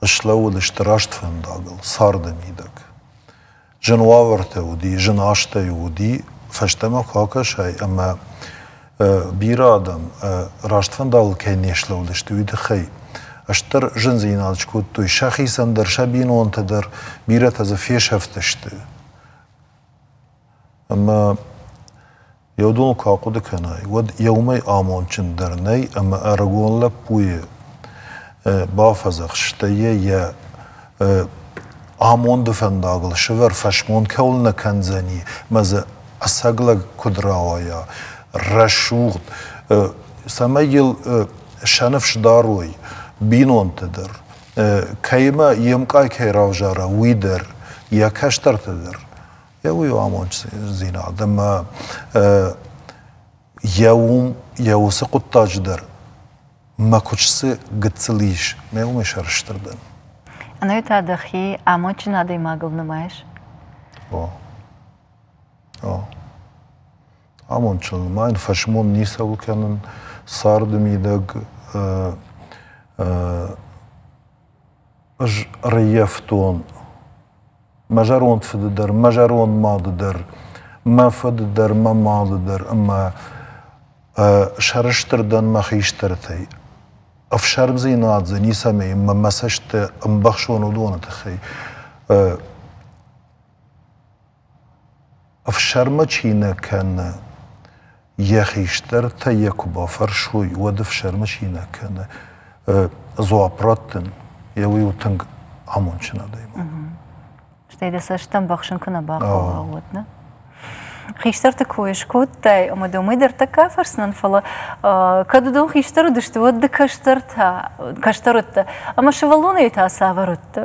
Ыслӕууыдысты раст фӕндагыл, царды мидӕг. Зын уавӕртӕ уыди, зын азтӕ уыди, фӕстӕмӕ куы акӕсай ӕмӕ бирӕ адӕм раст фӕндагыл кӕй не слӕууыдысты, уый тыххӕй стыр зындзинад скодтой сӕхицӕн дӕр, сӕ бинонтӕ дӕр, бирӕтӕ дзы фесӕфтысты. Ӕмӕ Еудон куы ахъуыды кӕнай, уӕд еумӕй амондджындӕр нӕй ӕмӕ ӕрыгон лӕппуйы бафӕдзӕхс, стӕй йӕ йӕ амонды фӕндагыл сывӕр фӕсмон кӕуыл нӕ кӕндзӕни мӕ дзы ӕцӕг лӕг куыд рауайа рӕсугъд, цӕмӕй йыл сӕ ныфс дарой бинонты дӕр, кӕимӕ йе мкъай кӕй равзара, уый дӕр, йӕ кӕстӕрты дӕр. Йӕ уый у амонддзинад ӕмӕ йӕ уым йӕ уыцы хъуыддаджы дӕр мӕ куысты гыццыл ис, мӕ уымӕй сӕрыстыр дӕн. Ӕнӕ та дӕхи амондджын адӕймагыл нымайыс? О. О. Амондджын ма йын фӕсмон ницӕуыл кӕнын, царды мидӕг Ӕз раййӕфтон мӕ зӕронд фыды дӕр, мӕ зӕронд мады дӕр, мӕ фыды дӕр, мӕ мады дӕр ӕмӕ сӕрыстыр дӕн мӕ хистӕртӕй. Ӕфсӕрмдзинад дзы ницӕмӕй ӕмӕ мӕ цӕсттӕ ӕмбӕхсон уыдоны тыххӕй. Ӕфсӕрмы чи нӕ кӕны, йӕ хистӕртӕ йӕ куы бафӕрсой, уӕд ӕфсӕрмы чи нӕ кӕны, дзуапп раттын, йӕ уый у тынг амондджын адӕймаг. Стӕй дӕ цӕстытӕм бахсын куы нӕ бахъӕуа, уӕд, нӕ? Хистӕрты кой скодтай, ӕмӕ дӕ уымӕй дӕр тӕккӕ фӕрсынӕн, фӕлӕ кӕд уыдон хистӕр уыдысты, уӕд ды кӕстӕртӕ, кӕстӕр уыдтӕ, ӕмӕ сывӕллонӕй та цавӕр уыдтӕ?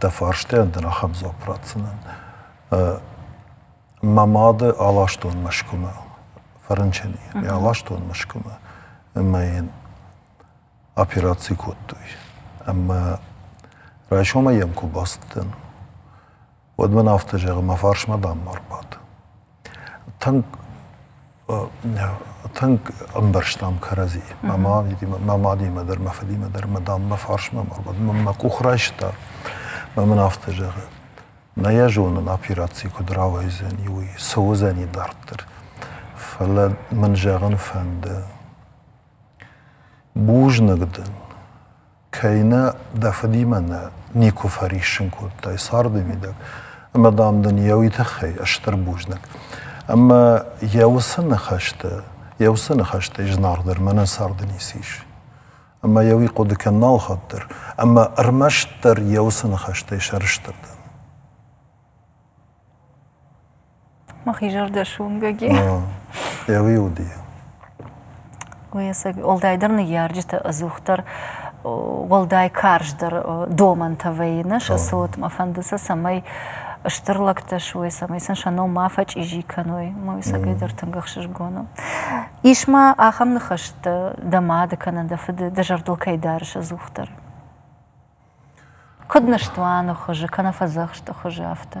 Дӕ фарстайӕн дын ахӕм дзуапп ратдзынӕн. Мӕ мады аластон Мӕскуымӕ, Фӕрынчыни. Аластон Мӕскуымӕ ӕмӕ йын операци кодтой. Ӕмӕ райсомӕй йӕм куы бацыдтӕн, уӕд мын афтӕ зӕгъы, мӕ фарсмӕ дам ӕрбад. Тынг тынг ӕмбӕрстам кӕрӕдзи. Мӕ мадимӕ дӕр, мӕ фыдимӕ дӕр мӕ дам мӕ фарсмӕ ӕрбад. Мӕ къух райста мӕ мын афтӕ зӕгъы, нӕ йӕ зонын операци куыд рауайдзӕни, уый, цы уыдзӕни дарддӕр. Фӕлӕ мын зӕгъын фӕнды, бузныг дын, кӕй нӕ дӕ фыдимӕ нӕ никуы фӕриссын кодтай царды мидӕг, ӕмӕ, дам, дын йӕ уый тыххӕй стыр бузныг. Ӕмӕ йӕ уыцы ныхӕсты, йӕ уыцы ныхӕстӕй зынаргъдӕр мӕнӕ царды ницы ис. Ӕмӕ йӕ уый хъуыды кӕн нал хатдӕр, ӕмӕ ӕрмӕстдӕр йӕ уыцы ныхӕстӕй сӕрыстыр дӕн. мӕхи зӕрдӕ суынгӕг и. Еуи уыди. Ӕцӕг, уӕлдайдӕр ныййарджыты ӕдзухдӕр уӕлдай карздӕр домӕнтӕ вӕййы сӕ цот. Мӕ фӕнды сӕ, цӕмӕй стыр лӕгтӕ суой, цӕмӕй сын сӕ ном ма фӕчъизи кӕной. Мӕ уыцагӕй дӕр тынг ӕхсызгон у. Ис ма ахӕм ныхӕстӕ дӕ мады кӕнӕ дӕ фыды, дӕ зӕрдыл кӕй дарыс ӕдзухдӕр? Куыд ныстуаны хуызы, кӕнӕ фӕдзӕхсты хуызы афтӕ?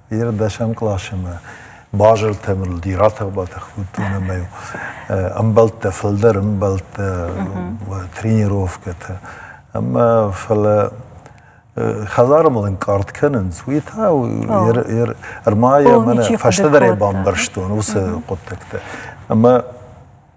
Йӕ дӕсӕм къласимӕ базыртӕм рылди, ратӕх-батӕх кодтон ӕмӕ ӕмбӕлттӕ, фылдӕр ӕмбӕлттӕ, тренировкӕтӕ. Ӕмӕ фӕлӕ хӕдзары мыл ӕнкъард кӕнынц, уый та ӕрмӕй мӕнӕ фӕстӕдӕр ӕй бамбӕрстон уыцы хъуыддӕгтӕ. Ӕмӕ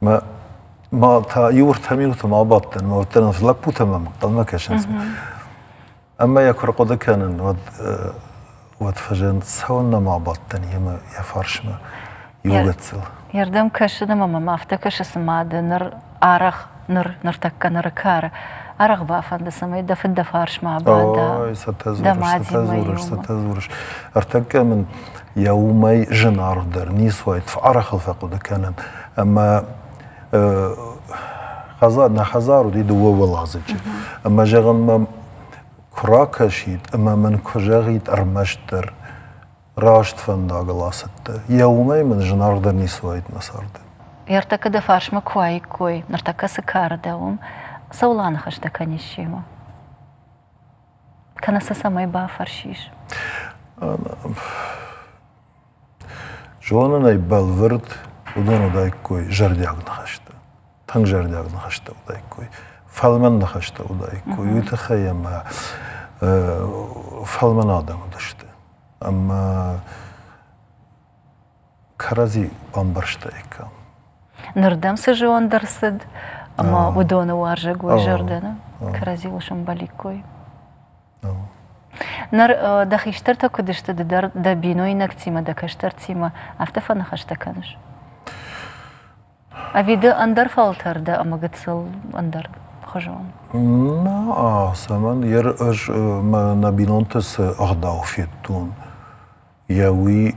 ма та иу ӕртӕ минуты ма бадтӕн, уӕддӕр ӕвз лӕппутӕ мӕм ӕнхъӕлмӕ кӕсынц. Ӕмӕ йӕ куы рхъуыды кӕнын, уӕд уӕд фӕзынд, цӕуын нӕма бадтӕн йемӕ йӕ фарсмӕ иу гыццыл. Йе рдӕм кӕсы ӕмӕ мӕм афтӕ кӕсы, цыма дӕ ныр арӕх ныр ныртӕккӕ ныры кары арӕх бафӕнды, цӕмӕй дӕ фыд дӕ фарсмӕ абада. Ой, цытӕ дзурыс, цытӕ дзурыс, цытӕ дзурыс. Ӕртӕккӕ мын йӕ уымӕй зынаргъдӕр ницы уаид, фӕарӕхыл фӕхъуыды кӕнын. ӕмӕ хӕдзар нӕ хӕдзар уыди дыууӕуӕладзыджы ӕмӕ зӕгъӕм мӕм куы ракӕсид ӕмӕ мын куы зӕгъид ӕрмӕстдӕр раст фӕндагыл ацыдтӕ йӕ уымӕй мын зынаргъдӕр ницы уаид мӕ царды. Ӕртӕккӕ дӕ фарсмӕ куы уаиккой, ныртӕккӕ цы кары дӕ уым, цӕуыл аныхӕстӕ кӕнис семӕ? Кӕнӕ сӕ цӕмӕй бафӕрсис? Зонын ӕй бӕлвырд, уыдон уыдаиккой зӕрдиаг ныхӕстӕ, тынг зӕрдиаг ныхӕстӕ уыдаиккой, фӕлмӕн ныхӕстӕ уыдаиккой. Уый тыххӕй ӕмӕ фӕлмӕн адӕм уыдысты. Ӕмӕ кӕрӕдзи бамбӕрстаиккам. Ныр дӕм цы зиан ӕрцыд ӕмӕ уыдоны уарзӕг уой зӕрдӕ кӕрӕдзиуыл сӕмбӕликкой? Ныр дӕ хистӕртӕ куыд сты ды дӕр дӕ бинойнӕгтимӕ, дӕ кӕстӕртимӕ, афтӕ фӕныхӕстӕ кӕныс? Ӕви ды ӕндӕр фӕлтӕр дӕ ӕмӕ гыццыл ӕндӕр хуызон? Наа, цӕмӕн? Ӕз мӕ нӕ бинонты цы ӕгъдау федтон, йӕ уый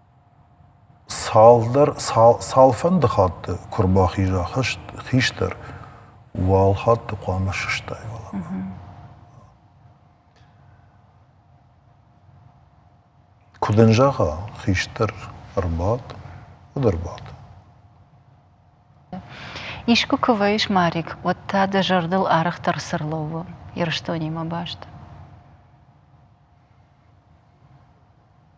Цалфӕнды хатты куы рбахиза хистӕр, уал хатты хъуамӕ сыстай уӕлӕмӕ. Куы дын зӕгъа, хистӕр ӕрбад, уӕд ӕрбад. Искуы куы уаис, Марик, уӕд та дӕ зӕрдыл арӕхдӕр цы рлӕууы Ирыстонимӕ баст?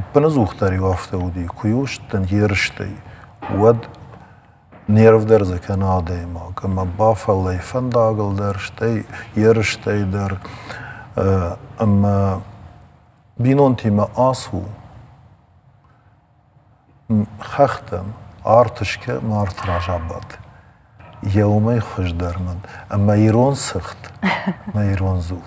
Ӕппыныдзух дӕр-иу афтӕ уыди, куы-иу сдтын ерыстӕй, уӕд нервдӕр дзы кӕны адӕймаг, ӕмӕ бафӕллай фӕндагыл дӕр, стӕй ерыстӕй дӕр. Ӕмӕ бинонтимӕ ацу, хӕхтӕм арт скӕн ӕмӕ арты раз абад. Йӕ уымӕй хуыздӕр мыд. Ӕмӕ ирон сыгъд ӕмӕ ирон дзул.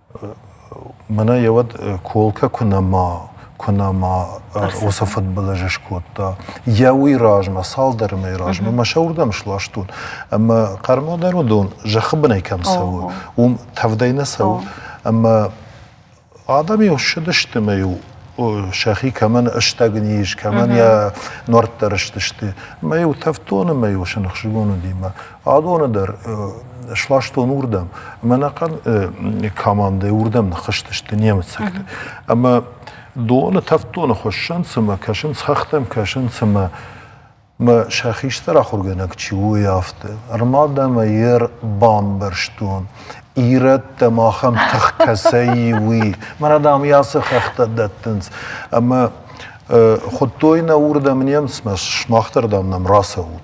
Мӕнӕ йӕ уӕд Колкӕ куы нӕма, куы нӕма уыцы фыдбылызы скодта, йӕ уый размӕ, цалдӕр мӕйы размӕ мӕ сӕ уырдӕм сластон. Ӕмӕ хъӕрмӕ дӕр уыдон, зӕххы бынӕй кӕм цӕуы, уым тӕвдӕй нӕ цӕуы. Ӕмӕ адӕм-иу ссыдысты ӕмӕ-иу сӕхи кӕмӕн ыстӕг низ, кӕмӕн йӕ нуӕрттӕ рыстысты. Ӕмӕ-иу тӕвдтон ӕмӕ-иу сын ӕхсызгон уыди мӕ Адоны дӕр сластон уырдӕм. Мӕнӕхъӕн командӕйы уырдӕм ныххызтысты немыцӕгты. Ӕмӕ доны, тӕвддоны хуыссӕн цымӕ, кӕсынц хӕхтӕм, кӕсынц ӕмӕ мӕ сӕ хистӕр ахуыргӕнӕг чи у, уый афтӕ. Ӕрмӕд ӕмӕ йе бамбӕрстон, ирӕттӕ махӕн тых кӕцӕй и, уый. Мӕнӕ, дам, йӕ ацы хӕхтӕ дӕттынц. Ӕмӕ хуыдтой нӕ уырдӕм немыцмӕ, сымах дӕр, дам, нӕм рацӕут.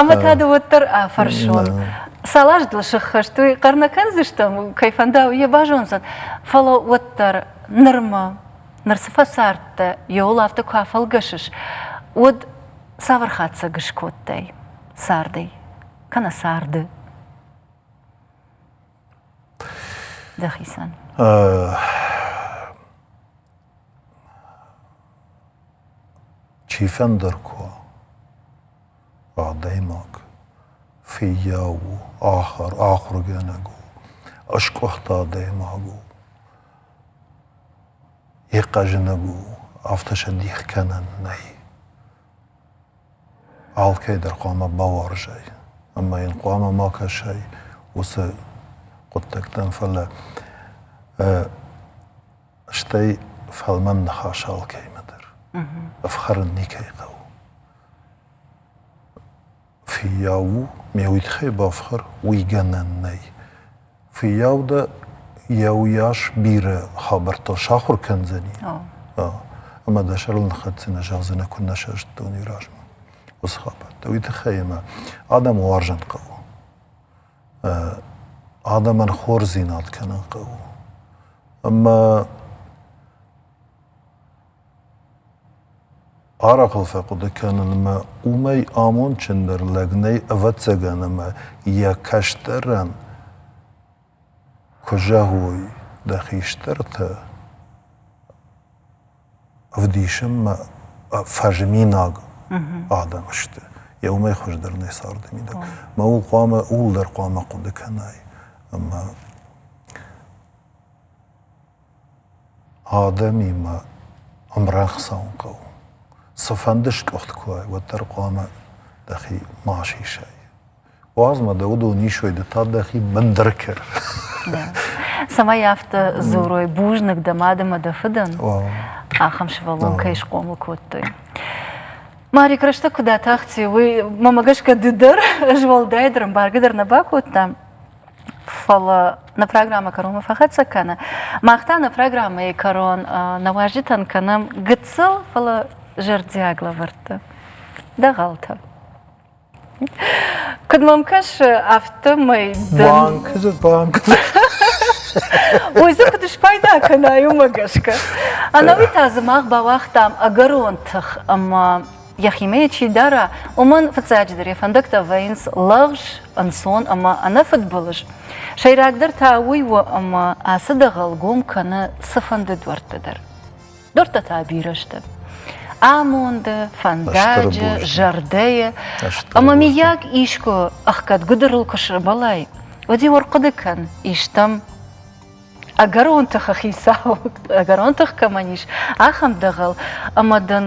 Ӕмӕ та ды уӕддӕр афӕрсон. Салаз дыл сыххӕст уый хъӕр нӕ кӕндзыстӕм, кӕй фӕнда, уый йӕ базондзӕн. Фӕлӕ уӕддӕр нырмӕ, ныр цы фӕцардтӕ, иууыл афтӕ куы афӕлгӕсыс, уӕд цавӕр хатдзӕг скодтай цардӕй, кӕнӕ царды? Дӕхицӕн. Чифӕндӕр куы у, адӕймаг, фыййау у, ахуыргӕнӕг у, ӕскъуыхт адӕймаг у, йе хъӕзынӕг у, афтӕ сӕ дих кӕнӕн нӕй. Алкӕйдӕр хъуамӕ бауарзай ӕмӕ йын хъуамӕ ма кӕсай уыцы хъуыддӕгтӕм, фӕлӕ стӕй фӕлмӕн ныхас алкӕмӕ дӕр ӕфхӕрын никӕй хъӕуы. Фыййау у, ме удхӕй бафхӕр, уый гӕнӕн нӕй. Фыййау дӕ йӕ уыйас бирӕ хабӕрттыл сахуыр кӕндзӕни. Ӕмӕ дӕ сӕрыл ныххӕцдзынӕ, зӕгъдзынӕ, куыннӕ сӕрыстон уый размӕ уыцы хабӕрттӕ. Уый тыххӕй ӕмӕ адӕмы уарзын хъӕуы. адӕмӕн хорздзинад кӕнын хъӕуы. Ӕмӕ арахъыл фӕхъуыды кӕнынмӕ уымӕй амондджындӕр лӕг нӕй, ӕвӕццӕгӕн, ӕмӕ йӕ кӕстӕрӕн куы зӕгъой, дӕ хистӕртӕ ӕвдисынмӕ фӕзминаг адӕм сты. Йӕ уымӕй хуыздӕр нӕй царды мидӕг. Мӕ ууыл хъуамӕ ууыл дӕр хъуамӕ хъуыды кӕнай. Ӕмӕ адӕмимӕ ӕмрӕнхъ цӕуын хъӕуы. Цыфӕнды скъуыхт куы уай, уӕддӕр хъуамӕ дӕхи ма сисай. Уадзмӕ дӕ удыл ниссой, ды та дӕхи бындыр кӕр. Цӕмӕй афтӕ дзурой бузныг дӕ мад ӕмӕ дӕ фыдӕн, ахӕм сывӕллон кӕй схъомыл кодтой. Марик, рӕстӕг куыд атахти, уый, мӕмӕ гӕсгӕ, ды дӕр змӕлдӕй дӕр, ӕмбаргӕ дӕр нӕ бакодтам. Фӕлӕ нӕ программӕ кӕронмӕ фӕхӕццӕ кӕны. Мах та нӕ программӕйы кӕрон нӕ уазджытӕн кӕнӕм гыццыл, фӕлӕ зӕрдиаг лӕвӕрттӕ. Дӕгъӕлтӕ. Куыд мӕм кӕсы, афтӕмӕй дӕ... Банкы, банкы. Ой, дзы куыд спайда кӕнай, уымӕ гӕсгӕ. Ӕнӕуи та дзы мах бауагътам ӕгӕрон тых ӕмӕ йӕхимӕ йӕ чи дара, уымӕн фыццаджыдӕр йӕ фӕндӕгтӕ вӕййынц лӕгъз, ӕнцон ӕмӕ ӕнӕфыдбылыз. Сӕйрагдӕр та уый у, ӕмӕ ацы дӕгъӕл гом кӕны цыфӕнды дуӕртты дӕр. Дортӕ та бирӕ сты амонды, фӕндаджы, зӕрдӕйы. Ӕмӕ миййаг искуы ӕхгӕд гуыдырыл куы сӕбӕлай, уӕд иу ӕрхъуыды кӕн, истӕм ӕгӕрон тыхы хицау, ӕгӕрон тых кӕмӕн ис, ахӕм дӕгъӕл, ӕмӕ дын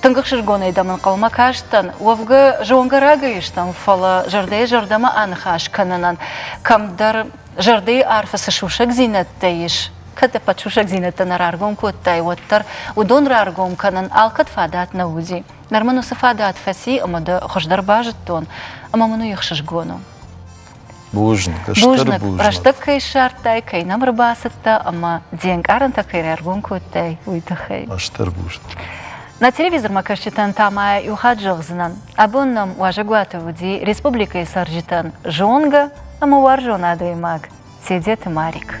Тынг ӕхсызгонӕй дӕм ӕнхъӕлмӕ кастӕн. Уӕвгӕ, зонгӕ рагӕй стӕм, фӕлӕ зӕрдӕйӕ-зӕрдӕмӕ аныхас кӕнынӕн кӕмдӕр зӕрдӕйы арфы цы сусӕгдзинӕдтӕ ис, кӕд ӕппӕт сусӕгдзинӕдтӕ нӕ раргом кодтай, уӕддӕр, уыдон раргом кӕнын алкӕд фадат нӕ уыди. Ныр мын уыцы фадат фӕци ӕмӕ дӕ хуыздӕр базыдтон, ӕмӕ мын уый ӕхсызгон у. Бузныг, стыр бузныг. бузныг. Рӕстӕг кӕй ссардтай, кӕй нӕм ӕрбацыдтӕ ӕмӕ де нкъарӕнтӕ кӕй раргом кодтай, уый тыххӕй. Стыр бузныг. На телевизормӕ кӕсджытӕн та ма иу хатт зӕгъдзынӕн, абон нӕм уазӕгуаты уыди республикӕйы цӕрджытӕн зонгӕ ӕмӕ уарзон адӕймаг Тедеты Марик.